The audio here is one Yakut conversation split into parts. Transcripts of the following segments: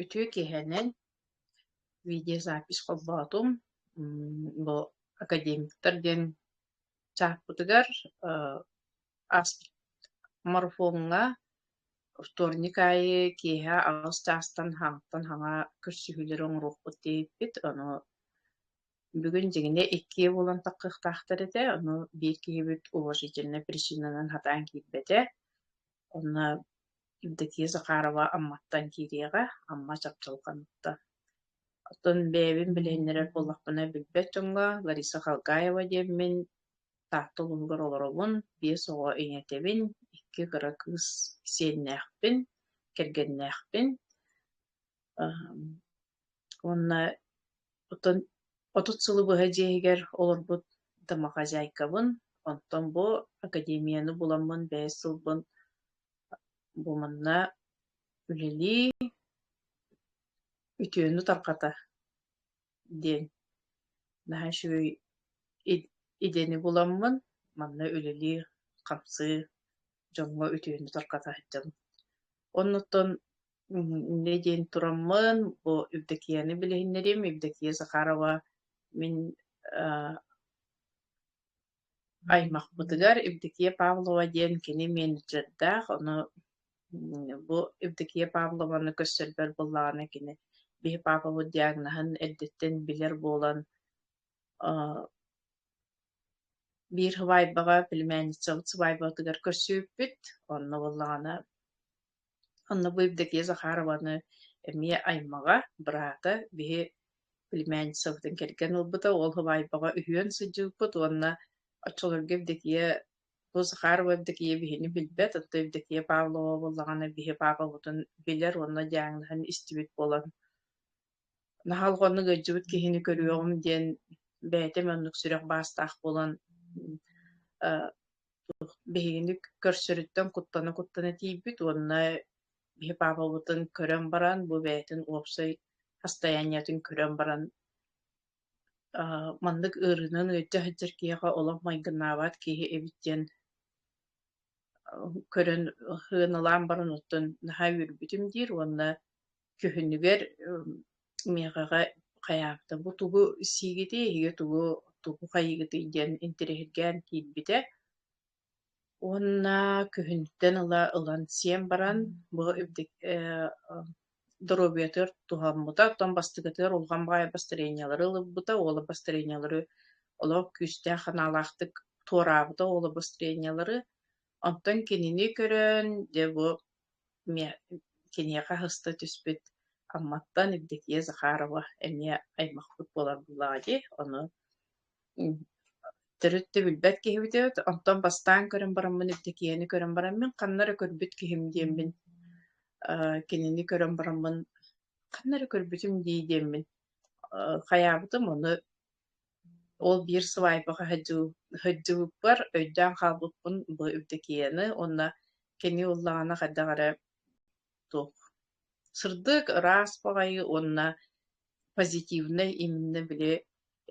Үтүө киһинэн видеозапись холбоотум. Бу академиктар диэн чааппытыгар астморфоҥҥа вторник аайы киэһэ аҕыс чаастан хаҥаттан хаҥа көрсүһүүлэри оҥоруохпут диэбиппит. Ону бүгүн дьиҥинэ иккиэ буолан таххыахтаахтар этэ, ону биир киһибит уважительнай причинанан хатаан киирбэтэ. Онно Евдокия Захарова Амматтан киириэҕэ, Амма Чапчылҕаныттан. Оттон бэйэбин билиһиннэрэр буоллахпына билбэт дьоҥҥо Лариса Халгаева диэммин Таатта улууһугар олоробун, биэс оҕо ийэтэбин, икки кыра кыыс сиэннээхпин, кэргэннээхпин. Эм, Уонна оттон отут сылы быһа дьиэ иһигэр олорбут домохозяйкабын, онтон бу академияны буламмын бэһис сылбын бумунна үлэлии, үтүөнү тарҕата диэн наһаа үчүгэй идэни буламмын манна үлэлии-хамсыы дьоҥҥо үтүөнү тарҕата сылдьабын. Оннуттан Инньэ диэн тураммын, бу Евдокияны билиһиннэриим. Евдокия Захарова мин э, аймахпытыгар Евдокия Павлова диэн кини менеджердаах, ону бу Евдокия Павлованы көрсөрбөр буоллаҕына кини биһи папабыт диагноһын эрдэттэн билэр буолан э, биир сыбаайбаҕа, племянница сыбаайбатыгар көрсүбүппүт. Онно буоллаҕына Онно бу Евдокия Захарованы эмиэ аймаҕа, быраата биһи племянницабытын кэргэн ылбыта, ол Хабаайбаҕа үһүөн сылдьыбыппыт уонна оччолорго Евдокия бу Захарова Евдокия биһини билбэт, оттон Евдокия Павлова буоллаҕына биһи паапабытын билэр уонна дьааҥнаһан истибит буолан наһаа олҕоннук ыалдьыбыт киһини көрүөҕүм диэн бэйэтэ оннук сүрэх баастаах буолан биһигини көрсөрүттэн куттана-куттана тиийбит уонна биһи паапабытын көрөн баран бу бэйэтин уопсай хастайаанньатын көрөн баран маннык ыарыынан ыалдьа сылдьар киһиэхэ олох майгынаабат киһи эбит диэн көрөн хыаналаан баран оттон наһаа үөрбүтүм диир уонна Дьүһүнүгэр миэхэҕэ хайаабыта бу тугу сиигитий эһиги тугу тугу хайыгытый диэн интэриэһиргээн киирбитэ уонна күһүнтэн ыла ылан сиэн баран бу доруобуйатыгар туһаммыта оттон бастыгытыгар улахан баҕайы бастарыанньалары ылыбыта уола бастарыанньалары олох күүстээх санаалаахтык туораабыта уола бастарыанньалары онтон кинини көрөн дьэ бу Эмиэ киниэхэ аһыста түспүт Амматтан Евдокия Захарова эмиэ аймахпыт буолар буоллаҕа дии, ону төрүт да билбэт киһибит эбит, онтон бастаан көрөн бараммын Евдокияны көрөн бараммын, ханна эрэ көрбүт киһим диэммин, э, кинини көрөн бараммын, ханна эрэ көрбүтүм дии диэммин, э, хайаабытым, ону Ол биир свайпаҕа сылдьыы сылдьыбыппар өйдөөн хаалбыппын бу Евдокияны уонна кини ыллаҕына хайдах эрэ туох сырдык, ыраас баҕайы уонна позитивнай именно били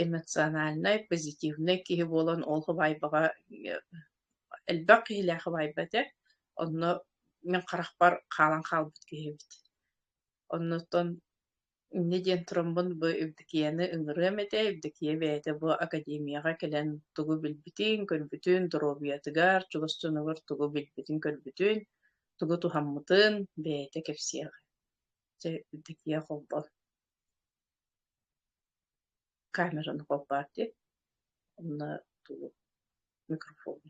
эмоциональнай, позитивнай киһи буолан ол хабаайбаҕа э, элбэх киһилээх хабаайба этэ. Онно мин харахпар хаалан хаалбыт киһи эбит. Оннуттан Инньэ диэн тураммын бу Евдокияны ыҥырыам этэ. Евдокия бэйэтэ бу академияҕа кэлэн тугу билбитин, көрбүтүн, доруобуйатыгар, чугастыныгар тугу билбитин-көрбүтүн, тугу туһаммытын бэйэтэ кэпсиэҕэ. Дьэ, Евдокия холбон камераны холбоот диэн. Онно тугу микрофону.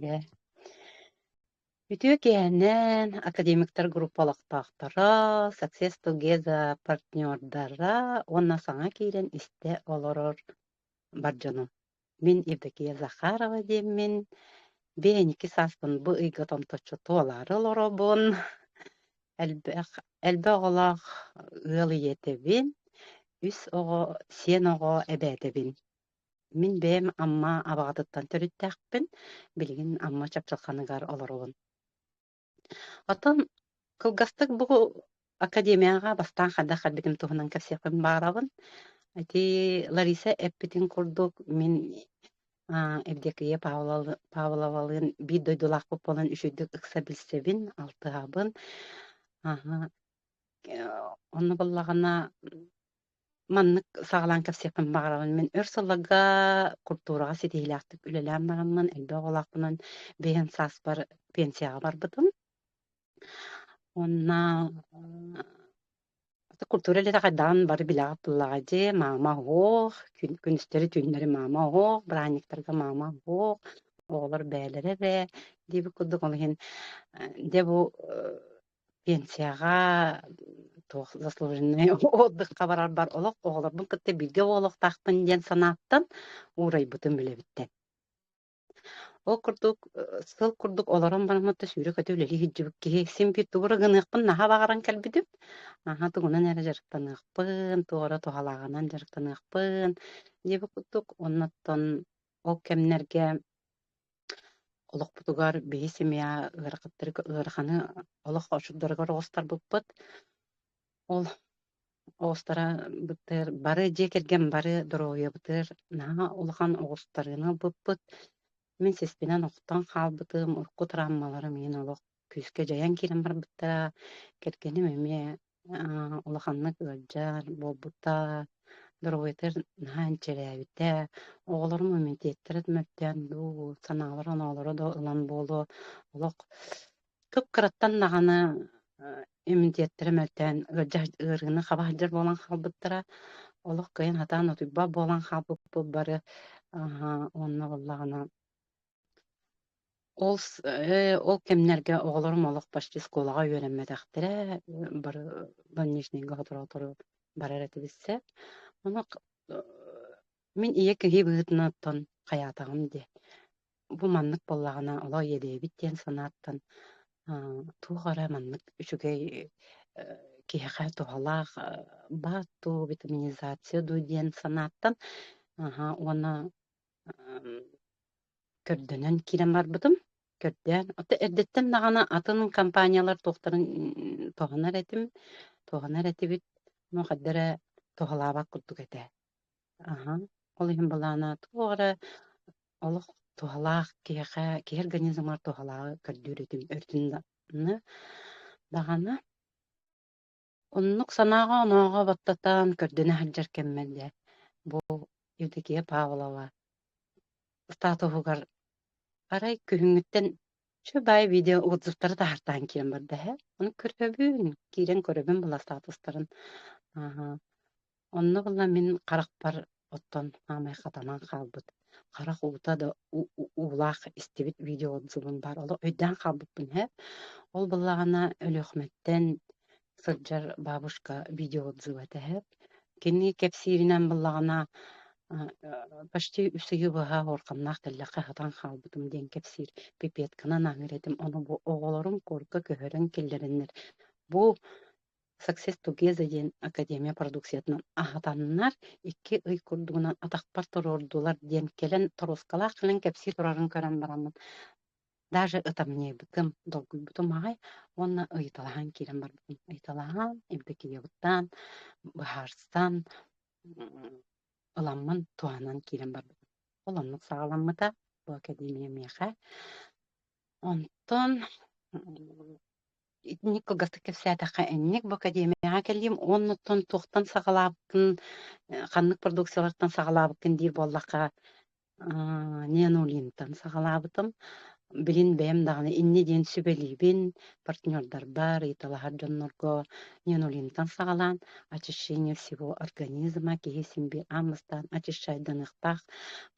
Дьэ, Үтүө киэһэнэн академиктар группа олохтоохторо, Success Together партнердара уонна саҥа киирэн истэ олорор бар дьонум. Мин Евдокия Захарова диэммин. Бээники сааспын бу ыйга томточчу туолаары олоробун. Элбэх, элбэх оҕолоох ыал ийэтэбин, үс оҕо, сиэн оҕо эбээтэбин. Мин бэйэм Амма Абаҕатыттан төрүттээхпин. Билигин Амма Чапчылханыгар олоробун. Оттон кылгастык бу академияҕа бастаан хайдах эрдигин туһунан кэпсиэхпин баҕарабын. Ити Лариса эппитин курдук, мин а, Евдокия Павлова- Павловалыын биир дойдулаахпыт буолан үчүйдүк ыкса билсэбин, алтыһабын. Аһа. Э, Онно буллаҕына Маннык саҕалаан кэпсиэхпин баҕарабын. Мин өр сылларга культураҕа ситиһиилээхтик үлэлээн бараммын, элбэх оҕолоохпунан бэйэм сааспар пенсияҕа барбытым. Уонна э, культура үлэтэ хайдаҕын бары билэҕит буоллаҕа дии. Маама оһох, күн- күнүстэри түүннэри маама оһох, быраанньыктарга маама оһох, оҕолор бээлэрэ бээ диэбит курдук ол иһин э, дьэ бу э, пенсияҕа туох заслуженный отдыхха барарбар олох оҕолорбун кытта бииргэ оҕолохтаахпын диэн санааттан уурайбытым үлэбиттэн. Ол курдук сыл курдук олорон бараммытта сүүрэ-көтө үлэлии сылдьыбыт киһи син биир тугу эрэ гыныахпын наһаа баҕаран кэлбитим. Аһа тугунан эрэ дьарыктаныахпын, туора туһалааҕынан дьарыктаныахпын диэбит курдук. Оннуттан ол кэмнэргэ олохпутугар биһи семья ыарахаттары ыараханы олох очурдарыгар оҕустарбыппыт. Ол оҕустара бытыыр бары дьиэ кэргэн бары доруобуйабытыгар наһаа улахан оҕустарыыны ылбыппыт. Мин сиспинэн охтон хаалбытым, урукку травмаларым иһин олох күүскэ дьайан киирэн барбыттара. Кэргэним эмиэ улаханнык ыалдьар буолбута, доруобуйатыгар наһаа инчирээбитэ, оҕолорум иммунитеттарын мөлтөөн дуу, санаалара оноолоро да ылан буолуо, олох кып-кыраттан даҕаны иммунитеттара мөлтөөн ыалдьар ыарыыны хаба сылдьар буолан хаалбыттара, олох кыайан сатаан утуйбат буолан хаалбыппыт бары, уонна буоллаҕына Ол с э, ол кэмнэргэ оҕолорум олох почти школаҕа үөрэммэтэхтэрэ, бары больничнайга соторуту барар этэ билсэ. Онох э, мин ийэ киһи быһыытынан хайаатаҕым дии. Бу маннык буоллаҕына олох иэдэйэбит диэн санааттан аа, туох эрэ маннык үчүгэй э, киһиэхэ туһалаах э, баар дуу, витаминизация дуу диэн санааттан аха уонна көрдөнөн киирэн барбытым. Көрдөөн, ото эрдэттэн даҕаны атын компаниялар туохтарын туһанар этим, туһанар этибит. Ну, хадда эрэ туһалаабат курдук этэ. Аһа, ол иһин былаана туох эрэ олох туһалаах киһиэхэ, киһи организмыгар туһалааҕы көрдүүр этим өртүннэ даҕаны. Оннук санааҕа-онооҕо баттатан, көрдөнө сылдьар кэммэр дьэ, бу Евдокия Павлова статуһугар арай күһүҥҥүттэн чубай видео отзывтары таһартаан киирэн барда ээ. Ону көрөбүн, киирэн көрөбүн былар статустарын. Аһа. Онно була мин харахпар оттон саамай хатанан хаалбыт харах уута да уу уулаах истибит видео отзывым баар. Олох өйдөөн хаалбыппын иһэ. Ол былаана Өлүөхүмэттэн сылдьар бабушка видео отзыва этэ иһэ. Кини кэпсииринэн былаана почти үс ыйы быһа уорханнаах тэллэххэ сатаан хаалбытым диэн кэпсиир пипетканан ааҥар этим. Ону бу оҕолорум куорка көһөрөн киллэрэннэр бу Success Together диэн академия продукциятынан аһатаннар, икки ый курдугунан атахпар туруордулар диэн кэлэн торуоскалаах кэлэн кэпсии турарын көрөн бараммын, даже ытамньыйбытым, долгуйбутум аҕай уонна ыйыталаһан киирэн барбытым. Ыйыталаһан, эмпикийэбыттаан, быһаарсан, ыламмын туһанан киирэн барбытым. Ол оннук саҕаламмыта бу академия миэхэ. Онтон итинник кылгастык кэпсээтэххэ инник бу академияҕа кэлиим уоннуттан туохтан саҕалаабыккын ханнык продукциялартан саҕалаабыккын диир буоллахха неонолинтан саҕалаабытым билин бэйэм даҕаны инни диэн сүбэлиибин партнердарбар ыйыталаһар дьоннорго неонолинтан саҕалаан очищение всего организма киһи симби аанмастаан очищать даныахтаах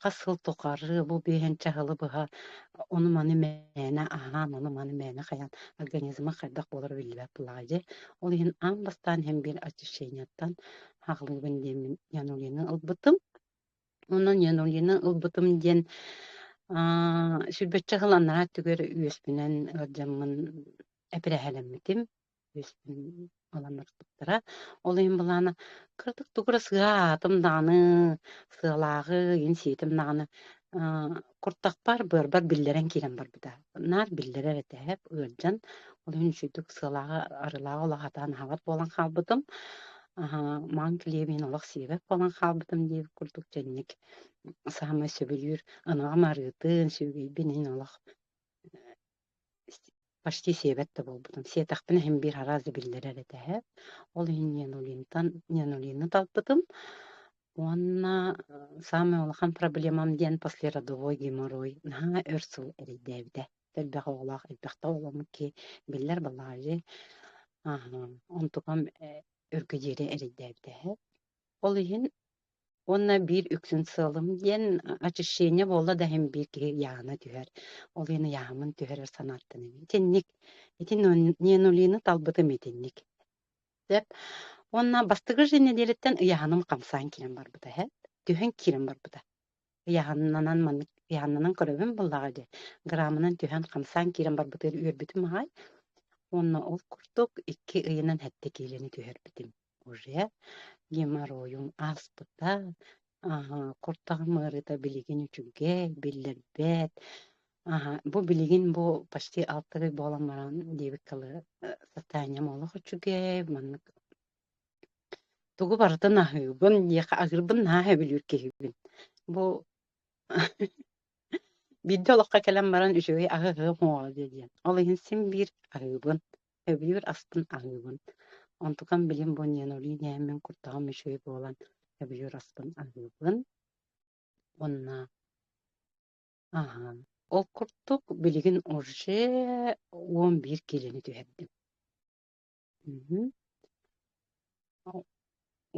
хас сыл тухары бу биэһэн чаһылы быһа Ону маны мээнэ аһаан, ону маны мээнэ хайаан организма хайдах буолара биллибэт буолаҕа дьэ. Ол иһин аан бастаан һэм биир очищениеттан хааллыбын диэммин Янулины ылбытым. Онон Янулины ылбытым диэн аа, сүрбэччэ хыл анараа өттүгэр үөспүнэн ыалдьаммын эпирэһэлэммитим. Баланнарбыттара. Ол иһин былаана кырдык тугу эрэ сыа аатым даҕаны, сыалааҕы, ин-сиитим даҕаны аа, куртахпар, быарбар биллэрэн киирэн барбыта. Наар биллэрэр этээп, ыалдьан. Ол иһин үчүгэйдик сыалааҕы, арыылааҕы олох атаан аһабат буолан хаалбытым. Аһа, маҥ килиэбин олох сиэбэт буолан хаалбытым диир курдук дьэнник саамай сөбүлүүр, ынаҕым арыытын, сүөгэйбин иһин олох почти сиэбэт да буолбутум сиэтэхпинэ иһин биир араас да биллэрэр этэ эһэ ол иһин нянулинтан нянулины талбытым уонна самый улахан проблемам диэн послеродовой геморрой наһаа өр сыл эрэйдээбитэ элбэх оҕолоох элбэхтэ оҕоломмут киһи биллэр балаҕажы онтукам өргө диэри эрэйдээбитэ эһэ ол иһин уонна биир үксүн сыалым диэн очищение буолла да иһин биир киһи iyааһына түһэр. Ол иһин iyааһымын түһэрэр санааттан итинник. Итин Ненулины талбытым итинник. Деп. Уонна бастыгы же неделиттэн iyaaһыным хамсаан киирэн барбыта эһэ. Түһэн киирэн барбыта. Iyaaһыннанан маннык iyaaһыннанан көрөбүн буллаҕа дии. Граммынан түһэн хамсаан киирэн барбытыгар үөрбүтүм аhay. Уонна ол курдук икки ыйынан хэтте киилэни түһэрбитим. уже геморройун ааспыта, куртаҕым ыарыыта билигин үчүгэй, биллэрбэт. бу билигин бу почти алта ый буолан баран диэбит состоянием олох үчүгэй, маннык тугу барытын аһыыбын, диэхэ агырбын наһаа өбүлүүр киһибин. Бу биирдэ олоххо кэлэн баран үчүгэй аһыһыам оо диэ диэн. Ол иһин син биир аһыыбын. Өбүгэр астын аһыыбын. Онтукам билим бу ненули дээммин куртаҕым үчүгэй буолан өбүгэр аспын аһыыбын. Уонна аһаан. Ол курдук билигин уже он биир киилэни түһэрдим. Мм.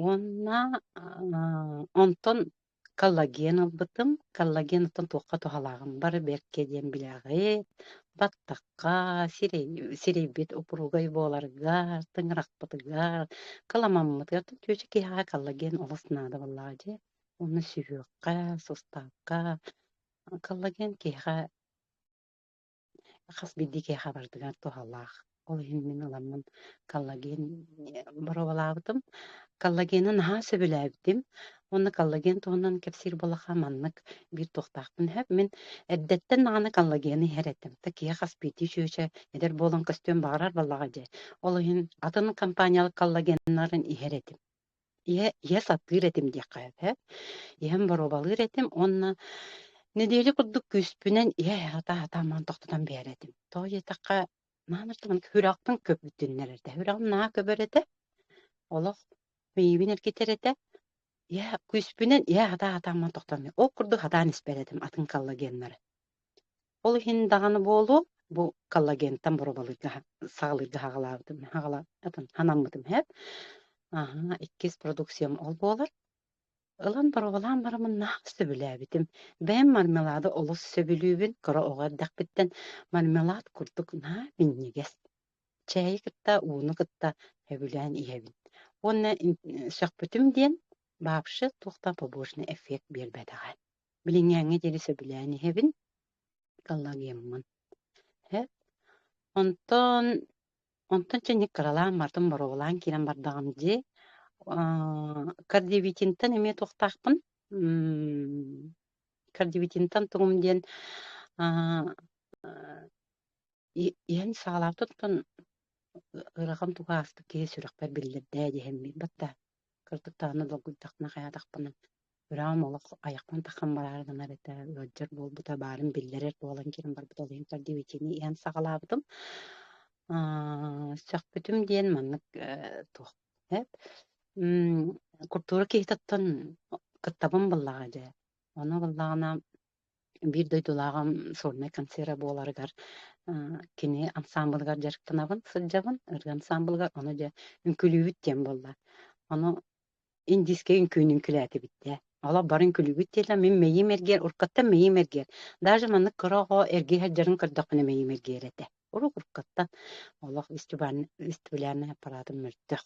Уонна аа, онтон коллаген ылбытым. Коллаген оттон туохха туһалааҕын бары бэркэ диэн билэҕит. Баттахха, сирэй, сирэйбит упругай буоларыгар, тыҥырахпытыгар, каламаммытыгар оттон чүөчэ киһиэхэ коллаген олус наадабыллаах дьэ. Уонна сүһүөххэ, суставка коллаген киһиэхэ хас биирдии киһиэхэ барытыгар туһалаах. Ол иһин мин ыламмын коллаген боруобалаабытым. Коллагены наһаа сөбүлээбитим. Уонна коллаген туһунан кэпсиир буоллаха маннык биир туохтаахпын иһэп. Мин эрдэттэн даҕаны коллагены иһэр этим. Да киһи хас биирдии чүөчэ эдэр буолан көстүөн баҕарар буоллаҕа дии. Ол иһин атын компаниялык коллагеннарын иһэр этим. Ийэ, ийэ сатыыр этим диэххэ этэ. Ийэм боруобалыыр этим уонна нэдиэлэ курдук күүспүнэн ийэ аһата-аһата аман тохтотон биэрэр этим. Тоҕо диэтэххэ, маамыр туман күрэхпин көбүттүннэр этэ. Күрэҕим наһаа көбөр этэ. Олох миибин эргитэр этэ. Ийэ күүспүнэн ийэ аһата-аһата аман тохтоон биэрэр. Ол курдук сатаан испэт этим атын коллагеннары. Ол иһин даҕаны буолуо, бу коллагентан боробалыырга саҕалыырга хаҕалаабытым, хаҕалаабытым, ханаммытым эһэт. Аһа, иккис продукциям ол буолар. Ылан боробалаан барамыннаах сөбүлээбитим. Бэйэм мармелады олус сөбүлүүбүн, кыра оҕо эрдэхпиттэн мармелад курдук наа минньигэс. Чээйи кытта, ууну кытта сөбүлээн иһэбин. Уонна сөхпүтүм диэн, бабшы туох да побочный эффект биэрбэтэҕэ. билиҥҥээҥҥэ диэри сөбүлээн иһэбин галлагиаммын һэ онтон онтон чэнник кыралаан бардым боруобалаан киирэн бардаҕым дии кардиовитинтан эмиэ туохтаахпын кардиовитинтан тугум диэн иһэн саҕалаабытыттан ыарахан туга ааспыт киһи сүрэхпэр биллэрдээ диэһэммин батта Кырдык даҕаны долгуйдахпына хайаатахпынан, быраҕым олох айахпын тахсан бараары гынар этэ, ыалдьар буолбута, баарын биллэрэр буолан киниэхэ барбыт ол иһин тардивитиини иһэн саҕалаабытым. Аа, сөхпүтүм диэн маннык э, туох эп м, культура киһититтэн кыттабын буллаҕа дьэ. Ону буллаҕына биир дойдулааҕым сольнай концерта буоларыгар кини ансаамбылыгар дьарыктанабын сылдьабын ырыа ансаамбылыгар ону дьэ үҥкүүлүүбүт диэн буолла ону индийскэ үҥкүүн үҥкүлээтибит дэ олох бары үҥкүлүүбүт диэтэ мин мэйиим эргиэр уруккаттан мэйиим эргиэр даже маннык кыра оҕо эргий сылдьарын көрдөхпүнэ мэйиим эргиэр этэ Урук уруккаттан олох вестибулярнай аппараатым мөлтөх.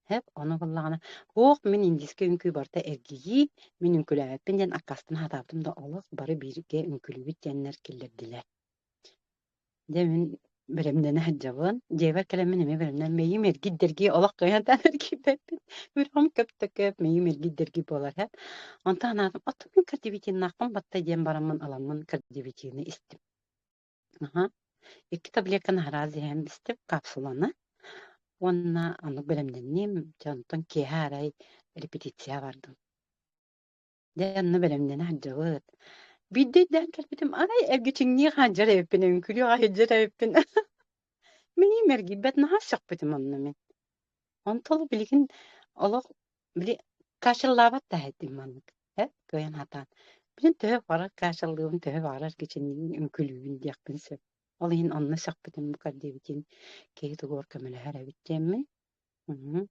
Хэп, ону буллаҕына, «Ох, мин индийскэ үҥкүү барыта эргийии, мин үҥкүүлээбэппин» диэн аккаастан сатаабытым да олох бары бииргэ үҥкүүлүүбүт диэннэр киллэрдилэр. Дьэ мин бэлэмнэнэ сылдьабын. Дьиэбэр кэлэммин эмиэ бэлэмнээн мэйиим эргийдэргии олох кыайаатаан эргийбэппин. Күрҕэм көптөкөп, мэйиим эргийдэргии буолар һэп. Онтон анаатым, «Отут кардивитиннаахпын батта» диэн бараммын ыламмын кардивитины истим. Аһа. Икки таблетка наһараа зиһэн бистип капсуланы уонна оннук бэлэмнэнним. Дьэ онтон киэһэ арай репетиция бардым. Дьэ онно бэлэмнэнэ сылдьабыт. Биирдэ өйдөөн кэлбитим, арай эргичиҥнии хаалдьар эбиппин, өҥкүлүү хаалдьар эбиппин. Мин мэргийбэт наһаа сөхпүтүм онно мин. Онтул билигин олох били каачаллаабат да этим маннык э кыайан хатаан. Билин төһө барар каачаллыыбын, төһө барар кичинниин үҥкүлүүбүн диэхпин сөп. Ол иһин онно сөхпүтүм бука диэбитин киһи тугугар көмөлөһөр эбит диэммин. Мм.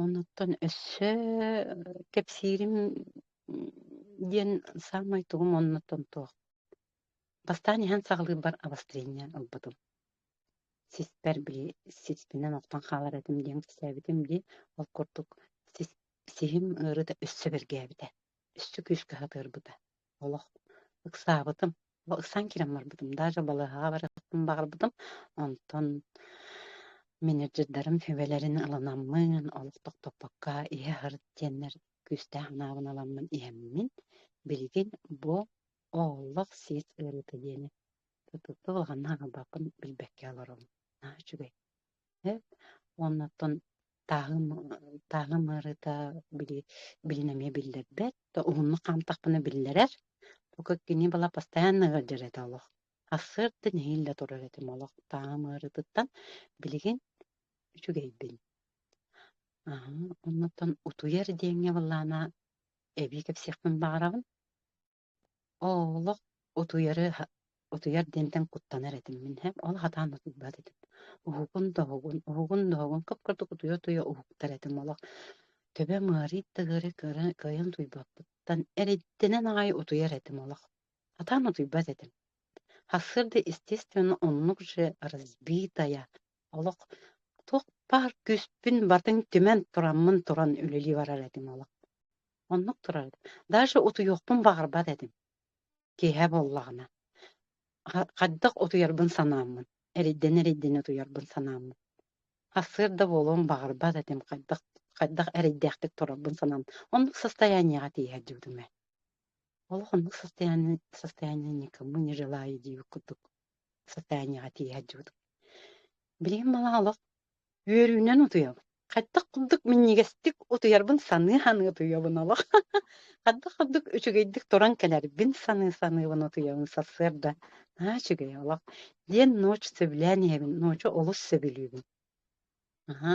Онуттан өссө кэпсиирим диэн саамай тугум оннуттан туох. Бастаан иһэн саҕалыырбар обострение ылбытым. сиспэр били сиспинэн охтон хаалар этим диэн кэпсээбитим дии ол курдук сис сиһим ыары да өссө бэргээбитэ өссө күүскэ сатыырбыта олох ыксаабытым ыксаан киирэн барбытым даже балыыһаҕа барыахпын баҕарбытым онтон менеджердарым сүбэлэрин ылынаммын олох тохтоппокко иһэ сырыт диэннэр күүстээх анаабын аламмын иһэммин билигин бу олох сис ыарыыта диэни Тутукка улаханна аҥарбаппын билбэккэ олором. Наһаа үчүгэй. Эт уонна оттон тааһым тааһым ыарыыта били билин эмиэ биллэрбэт, то уһуннук хаамтахпына биллэрэр. Тука кини бала постоянно ыалдьар этэ олох. Ассыырда нэһиилэ турар этим олох тааһым ыарыытыттан. Билигин үчүгэйбин. Аһа, оннуттан утуйар диэҥҥэ былаана эбии кэпсиэхпин баҕарабын. Олох утуйары утуйар диэнтэн куттанар этим мин. Һэ, ол хатаан утуйбат этим. Уһугун да уһугун, уһугун да уһугун, кып-курдук утуйа-утуйа уһуктар этим олох. Төбөм ыарыйт да ыары кыра кыайан утуйбаппыттан эриддэнэн аҕай утуйар этим олох. Хатаан утуйбат этим. Сарсыарда, естественно, оннук же разбитая, олох туох баар күүспүн батын түмэн тураммын туран үлэлии барар этим олох. Оннук турар. Даже утуйуохпун баҕарбат этим киэһэ буоллаҕына. Хайдах утуйарбын санааммын, эрийдэн-эрийдэн утуйарбын санааммын. Сарсыарда буолуон баҕарбат этим, хайдах хайдах эрэйдээхтик турарбын санаам. Оннук состояниеҕа тиийэр диибитим ээ. Олох оннук состояние состояние никому не желаю диибит курдук. социальныйга тиийэ сылдьыбытым. Билигин мала олох үөрүүнэн утуйабын. Хаттах курдук минньигэстик утуйарбын саныы-саныы утуйабын олох. Хардык-хардык үчүгэйдик туран кэлэрбин саныы-саныыбын утуйабын сарсыарда. Аа үчүгэй олох диэн ночь сөбүлээн иһэбин, ночу олус сөбүлүүбүн. Аһа,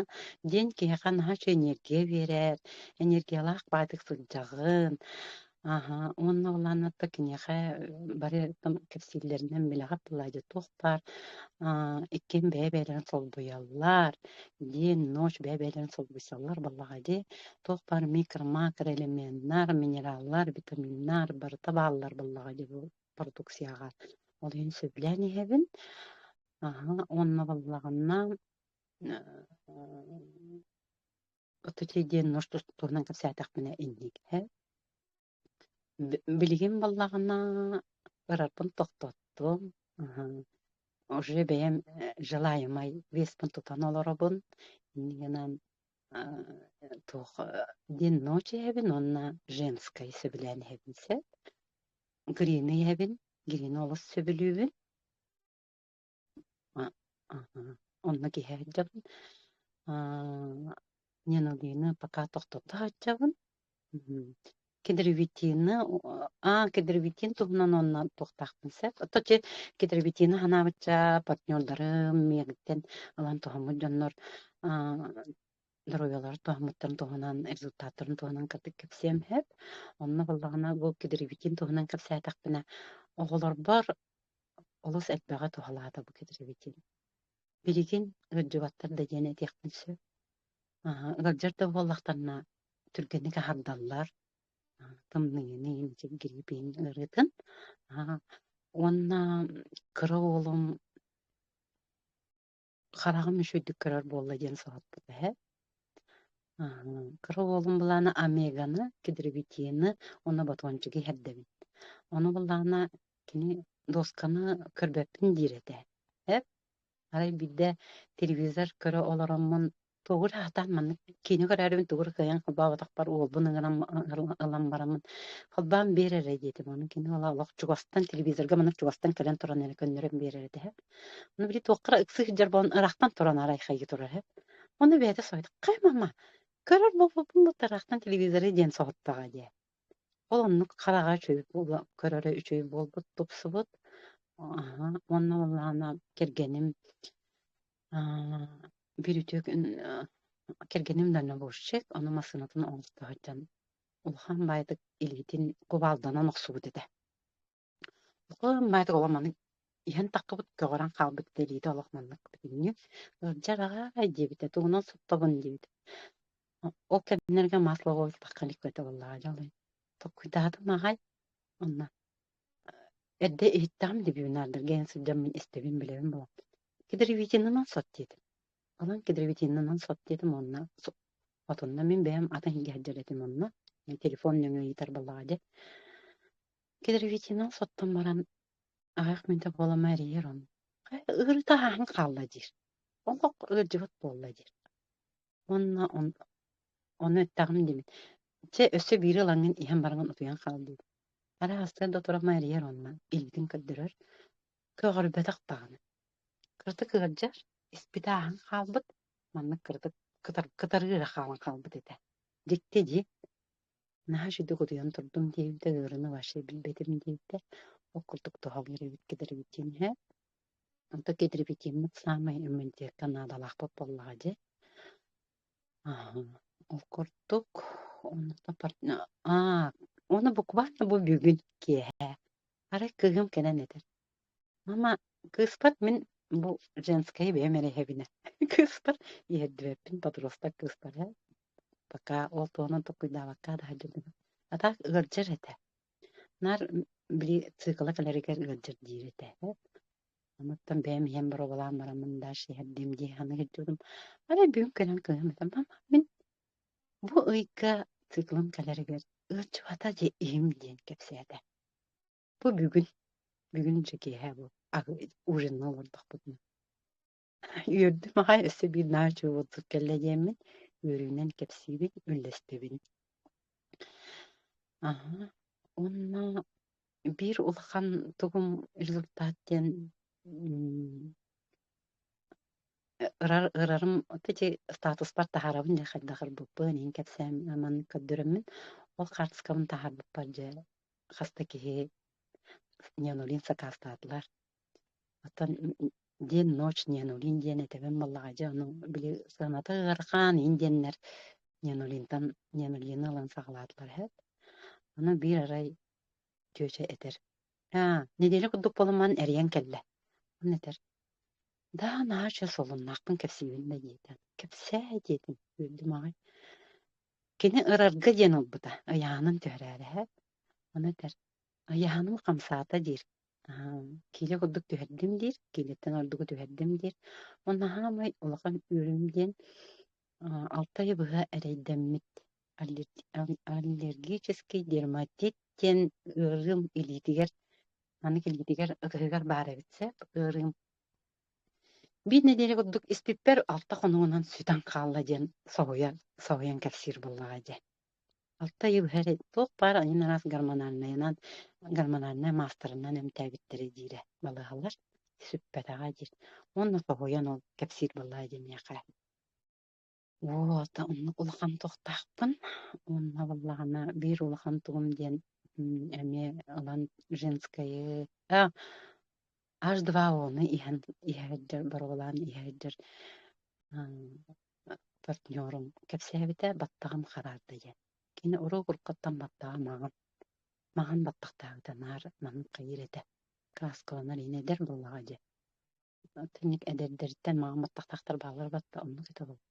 диэн киһиэхэ наһаа үчүгэй энергия биэрэр, энергиялаах баайдык сылдьаҕын, аһа, уонна ол ааннатта киниэхэ бары там кэпсииллэринэн мэлэҕит тылаайдьыт туох баар, аа, иккиэн бэйэ-бэйэлэрин солбуйаллар, диэн ночь бэйэ-бэйэлэрин солбуйсаллар балаҕа дии, туох баар микро-макроэлементнар, минераллар, витаминнар барыта бааллар балаҕа дии бу продукцияҕа. Ол иһин сөбүлээн иһэбин. Аһа, уонна балаҕанна Оту чэйдиэн норс тустуурунан кэпсээтэхпинэ инникиһэ Билигин баллаҕына барарбын тохтоттум. Уже бэйэм желаемай веспын тутан олоробун. Иннигинэн туох день ночи эһэбин уонна женскай сөбүлээн эһэбин сөп. Грины эһэбин, грина олус сөбүлүүбүн. Онно киһи сылдьабын. Аа, Нинолина пока тохтото сылдьабын. Мм. Кедровитина, аа, кедровитин туһунан онно туохтаахпын сөп. Отче кедровитина санаабычча партнердарым миэхиттэн ылан тоһуммут дьоннор аа, доруобуйаларын туһаммыттарын туһунан, результаттарын туһунан кытык кэпсиэм сөп. Онно буоллаҕына бу кедровитин туһунан кэпсээтэхпинэ оҕолорбор олус элбэҕи туһалаата бу кэдэрибитин. Билигин ыалдьыбаттар да диэн этиэхпин сөп. Аһа, ыалдьар да буоллахтарына түргэнник аһардаллар. А, тымныйын, гриппин, ыарыытын. А, уонна кыра уолум хараҕым үчүгэйдик көрөр буолла диэн соһуппут эһэ кыра уолум былаана омеганы кедровитины уонна ботуончугу иһэрдэбин ону былаана кини досканы көрбөппүн диир этэ эр арай биирдэ телевизор көрө олороммун Тугур аһатаан маннык киинэ көрөөрүбүн тугур кыайан холбооботохпор уолбун ыҥыран ылан бараммын холбоон биэрэрэ диэтим ону кини ыла олох чугастан телевизорга маннык чугастан кэлэн туран эрэ көннөрөн биэрэрэ тэһэ ону били туоххара ыкса сылдьар буолан ыраахтан туран арайхайга турар эһэ ону бэйэтэ соһуйда хай мама көрөр буолбуппун бу ыраахтан телевизоры диэн соһуттаҕа дии ол оннук хараҕа үчүгэй көрөрө үчүгэй буолбут тупсубут аха уонна уоллаана кэргэним Аа, бир үтүөк ын аа кэргэним дальнобойщик, ону массыынатын оҥосто сылдьан улахан баайдык илиитин кубалданан охсубут этэ. Улахан баайдык олох маннык иһэн таххыбыт, көҕөрөн хаалбыт да илиитэ олох маннык бүтүннүү. Ыалдьар аҕай диэбитэ, тугунан соттобун диэбитэ. О ол кэмнэргэ масло буолбакка илик этэ буоллаҕа дьэ ол иһин. Толкуйдаатым аҕай, онно. Эрдэ иһиттэҕим дии бибинаардар гайан сылдьаммын истэбин билэбин буолан кедровитинанан сот диэтим. Онон кедровитинанан сот диэтим уонна со отунна мин бэйэм атын иһингэ сылдьар этим онно. Мин телефон нөҥүө ыйытар буоллаҕа дии. Кедровитинан соттон баран аҕах мүнтэ буола мэрийэр он хайа ыарыыта ааһан хаалла диир. Олох ыалдьыбыт буолла диир. Уонна он ону эттэҕим дии мин чэ өссө биир ылаҥҥын иһэн бараҥын утуйан хаал дии Арай астыгар да туран майырыйар онно, илгитин көрдөрөр, көҕөрбөтөх даҕаны. Кырата кыырдьар, испит ааһан хаалбыт, маннык кырата кытар, кытарыыра хаалан хаалбыт этэ. Дьикти дии, наһаа үчүгэй утуйан турдум диэбитэ, ыарыыны вообще билбэтим диэбитэ, ол курдук туһалыыр эбит кэтэр эбит диэн иһэ. Онто кэдрипикиммит саамай иммунитекка наадалаахпыт буоллаҕа дьэ. Ол курдук, онно партна аа, уонна буквально бу бүгүн киэһэ. Арай кыыһым кэлэн этэр, мама, кыыспат мин бу женскэйи бэйэм эрэ иһэбинэ. Кыыспар иһэрдибэппин, подросток кыыспар ээ. Пока ол туһунан толкуйдаабакка да сылдьыбытым. А так ыалдьар этэ. Наар били цикла кэлэригэр ыалдьар диир этэ. Онуттан бэйэм иһэн боруобалаан бараммын даш иһэрдиим дии санаан сылдьыбытым. Арай бүгүн көрөн көрөн этим, мама мин бу ыйга циклым кэлэригэр ыаччыбата дьэ иһим диэн кэпсээтэ. Бу бүгүн бүгүн дьэ киэһэ бу ужинна олордохпутуна. Үөрдүм аҕай өссө биир наар дьулурдук кэллэ диэммин үөрүүнэн кэпсиибин, үллэстэбин. Аһа, уонна биир улахан тугум результат диэн м, ырар ырарым ити статуспар таһаарабын дии хайдах ырбыппын иһин кэпсээн аман көрдөрөммүн ол карточкабын таһаарбыппар дьэ хас да киһи неонулин сакаастаатылар Оттон диэн ночь Ньянулин диэн этэбин балаҕайдьа ону били сыаната ыарахаан диэннэр Ньянулинтан Ньянулины ылан саҕалаатылар үһү. Ону биир арай тётя этэр, аа, нэдиэлэ курдук буолуман эрийэн кэллэ. Онно этэр, да наача солуннаахпын кэпсиибин да диэтэ. Кэпсээ диэтим, үөрдүм аҕай. Кини ырарга диэн ылбыта, ыйаанын түһэрээри үһү. Ону этэр, Айааным хамсаата диир, киилэ курдук түһэрдим диир, киилэттэн ордугу түһэрдим диир. Ол наһаамай улахан үөрүүм диэн алта ай быһа эрэйдэммит аллергический дерматит диэн ыарыым илиитигэр, маннык илиитигэр, ытыһыгар баар эбит сөп ыарыым. Биир нэдиэлэ курдук испиппэр алта хонугунан сүтэн хаалла диэн соһуйан соһуйан кэпсиир буоллаҕа дии. Алта ыйы быһа эрэ туох баар айан араас гормональнайынан, гормональнай маастарынан эмтээбиттэрэ диирэ балыыһалар. Сүппэтэҕэ диир. Уонна хоһуйан ол кэпсиир буоллаҕа дии миэхэ. Уота оннук улахан тохтоохпун. Уонна буоллаҕына биир улахан туом диэн м, эмиэ ылан женскайы а Аш-два ону иһэн иһэрдэр, боруолаан иһэрдэр партнерум кэпсээбитэ баттаҕым хараарда диэн. Кини уруу уруккуттан баттаҕа маҕан маҕан баттахтаабыта наар манан хайыыр этэ. Кааскаланар иһин эдэр буоллаҕа дии. Итинник эдэрдэртэн маҕан баттахтаахтар бааллар батта оннук этэ буолла.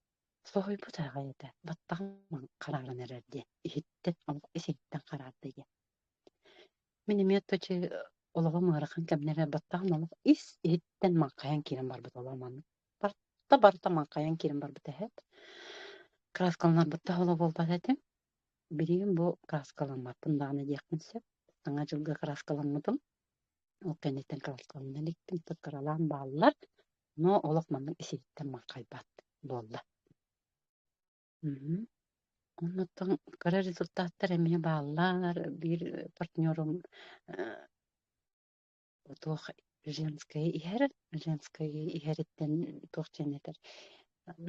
Соһуйбут аҕай этэ, баттаҕым хараҕын эрэр диэ, иһиттэн, омук эсиһиттэн хараардыы диэн. Мин эмиэ аччаччы олоҕум ыарахан кэмнэрэ баттаҕым омук ис иһиттэн маҥхайан киирэн барбыт олоҕум маннык. Барта барта маҥхайан киирэн барбыт эһэт. Кырааскаланарбыттан холо буолбат этим. Билигин бу кырааскаламмаппын даҕаны диэхпин сөп. Саҥа дьылга кырааскаламмытым. Ол кэнниттэн кырааскаламна иликтим, кыралаан бааллар. ноо олох маннык исиһиттэн маҥхайбат буолла Оннуттан кыра результаттар эмиэ бааллар. Биир партнерум туох женское иһэр, женское иһэриттэн туох диэн этэр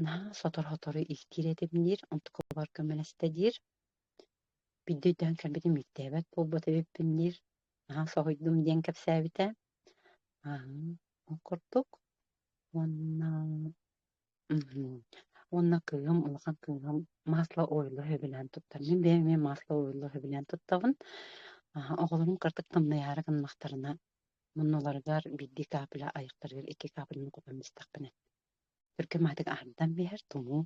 наһаа сотору-сотору иһтиир этим диир, онтукабар көмөлөстө диир. Бидде өйдөөн кэлбитим, иттээбэт буолбут эбиппин диир, наһаа соһуйдум диэн кэпсээбитэ. Ол курдук уонна уонна кыыһым улахан кыыһым масло ойулла үһүбүнээн туттар мин бэйэм эмиэ масло ойулла үһүбүнээн туттабын оҕолорум кырдык тамнайаары гыннахтарына муннуларыгар биирдии каапыла айахтарыгар икки каапыланы кутан истэхпинэ Төркем аатыгар аһардан биэрэр тумуу.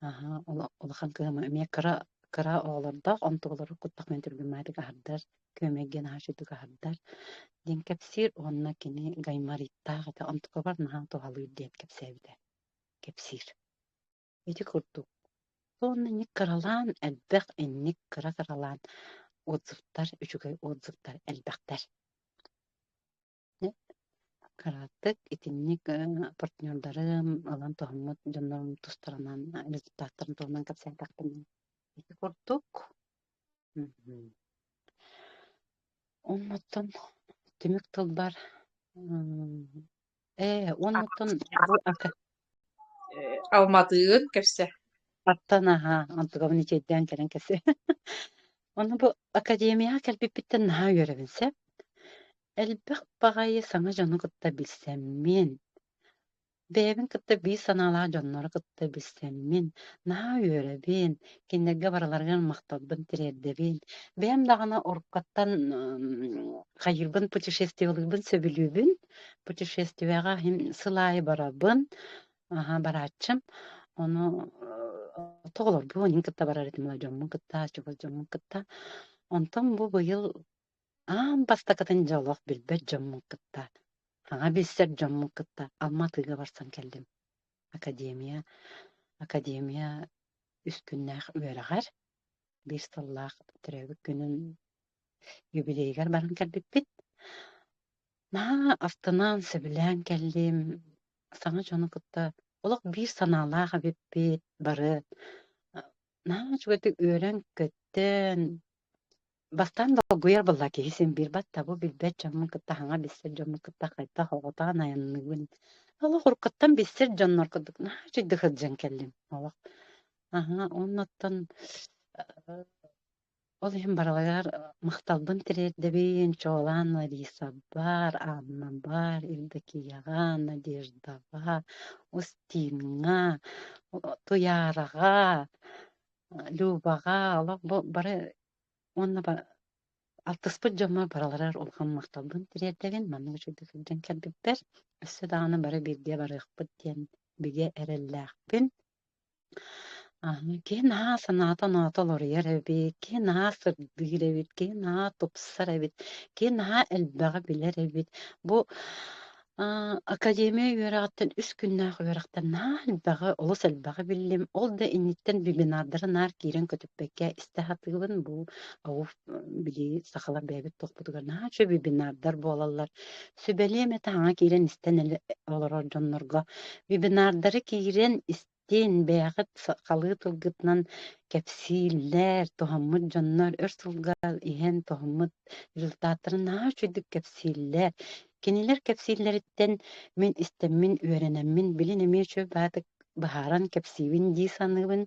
Аһа, ула улахан кыһамы эмиэ кыра кыра оҕолордоох, онтуолары куттах мин түргэн маатык аһардар, күөмэй диэн аһарчытык аһардар, диэн кэпсиир уонна кини гаймариттаах этэ, онтукабар наһаа туһалыыр диэн кэпсээбитэ, кэпсиир. Ити курдук. Уонна инник кыралаан, элбэх инник кыра-кыралаан отзывтар, үчүгэй отзывтар элбэхтэр. Кыратык итинник партнердарын ылан тоһуммут дьоннорум тустарынан результаттарын туһунан кэпсээтэхпинэ ити курдук оннуттан түмүк тылбар э оннуттан Алматыын кэпсэ. Аттан аһаа, антыгабын ичэйдээн кэлэн кэпсэ. Ону бу академияҕа кэлбиппиттэн наһаа үөрэбин сөп. Элбэх баҕайы саҥа дьону кытта билсэммин, бэйэбин кытта биир санаалаах дьоннору кытта билсэммин, наһаа үөрэбин, кинилэргэ барыларыгар махталбын тириэрдэбин. Бэйэм даҕаны оркуттан м, хайыырбын, путешествиялыырбын сөбүлүүбүн. путешествияҕа иһин сыл аайы барабын аһа барааччым ону оҕолорбун инин кытта барар этим дьоммун кытта чугас дьоммун кытта онтон бу быйыл аан бастакытын дьэ олох билбэт дьоммун кытта саҥа билсэр дьоммун кытта Алматыга барсан кэллим академия академия үскүннээх үөрэҕэр биир сыллаах төрөөбүт күнүн юбилейыгар баран кэлбиппит. Наһаа астынан, сөбүлээн кэллим. Саҥа дьону кытта олох биир санаалаах эбиппит бары. Наһаа үчүгэйдик үөрэн-көттөн, бастаан долгуйар буолла киһи син биир батта бу билбэт дьоммун кытта хаҥа билсэр дьоммун кытта хайдах оҕотоон айанныыбын олох уруккуттан билсэр дьоннор курдук наһаа үчүгэйдик сылдьан кэллим олох Аһа, оннуттан э, ол иһин барылыгар махталбын тириэрдэбин, чуолаан Ларисабар, Аннабар, Евдокияҕа, Надеждаҕа, Устиҥҥа, Туйараҕа, Любаҕа, олох бу бары уонна алтыспыт дьоҥҥо барыларыгар улахан махталбын тириэрдэбин. Маннык үчүгэй сылдьан кэлбиппэр, өссө даҕаны бары бииргэ барыахпыт диэн бигэ эрэллээхпин. Аны киһи наһаа санаата-оноото уларыйар эбит, киһи наһаа сырдыыр эбит, киһи наһаа тупсар эбит, киһи наһаа элбэҕи билэр эбит. Бу а, академия үөрэҕиттэн үс күннээх үөрэхтэн наһаа элбэҕи, олус элбэҕи биллим. Ол да инниттэн вебинардары наар киирэн көтүппэккэ истэ сатыыбын. Бу ау, били сахалар бэйэбит туохпутугар наһаа үчүгэй вебинардар буолаллар. Сүбэлиэм этэ хаҥа киирэн истэн олорор дьоннорго. Вебинардары киирэн истиин, бэйэҕит сахалыы тылгытынан кэпсииллэр, туһаммыт дьоннор өр сылга иһэн туһаммыт результаттарын наһаа үчүгдүк кэпсииллэр. Кинилэр кэпсииллэриттэн мин истэммин, үөрэнэммин, билин эмиэ үчүгэй баатык быһааран кэпсиибин дии саныыбын.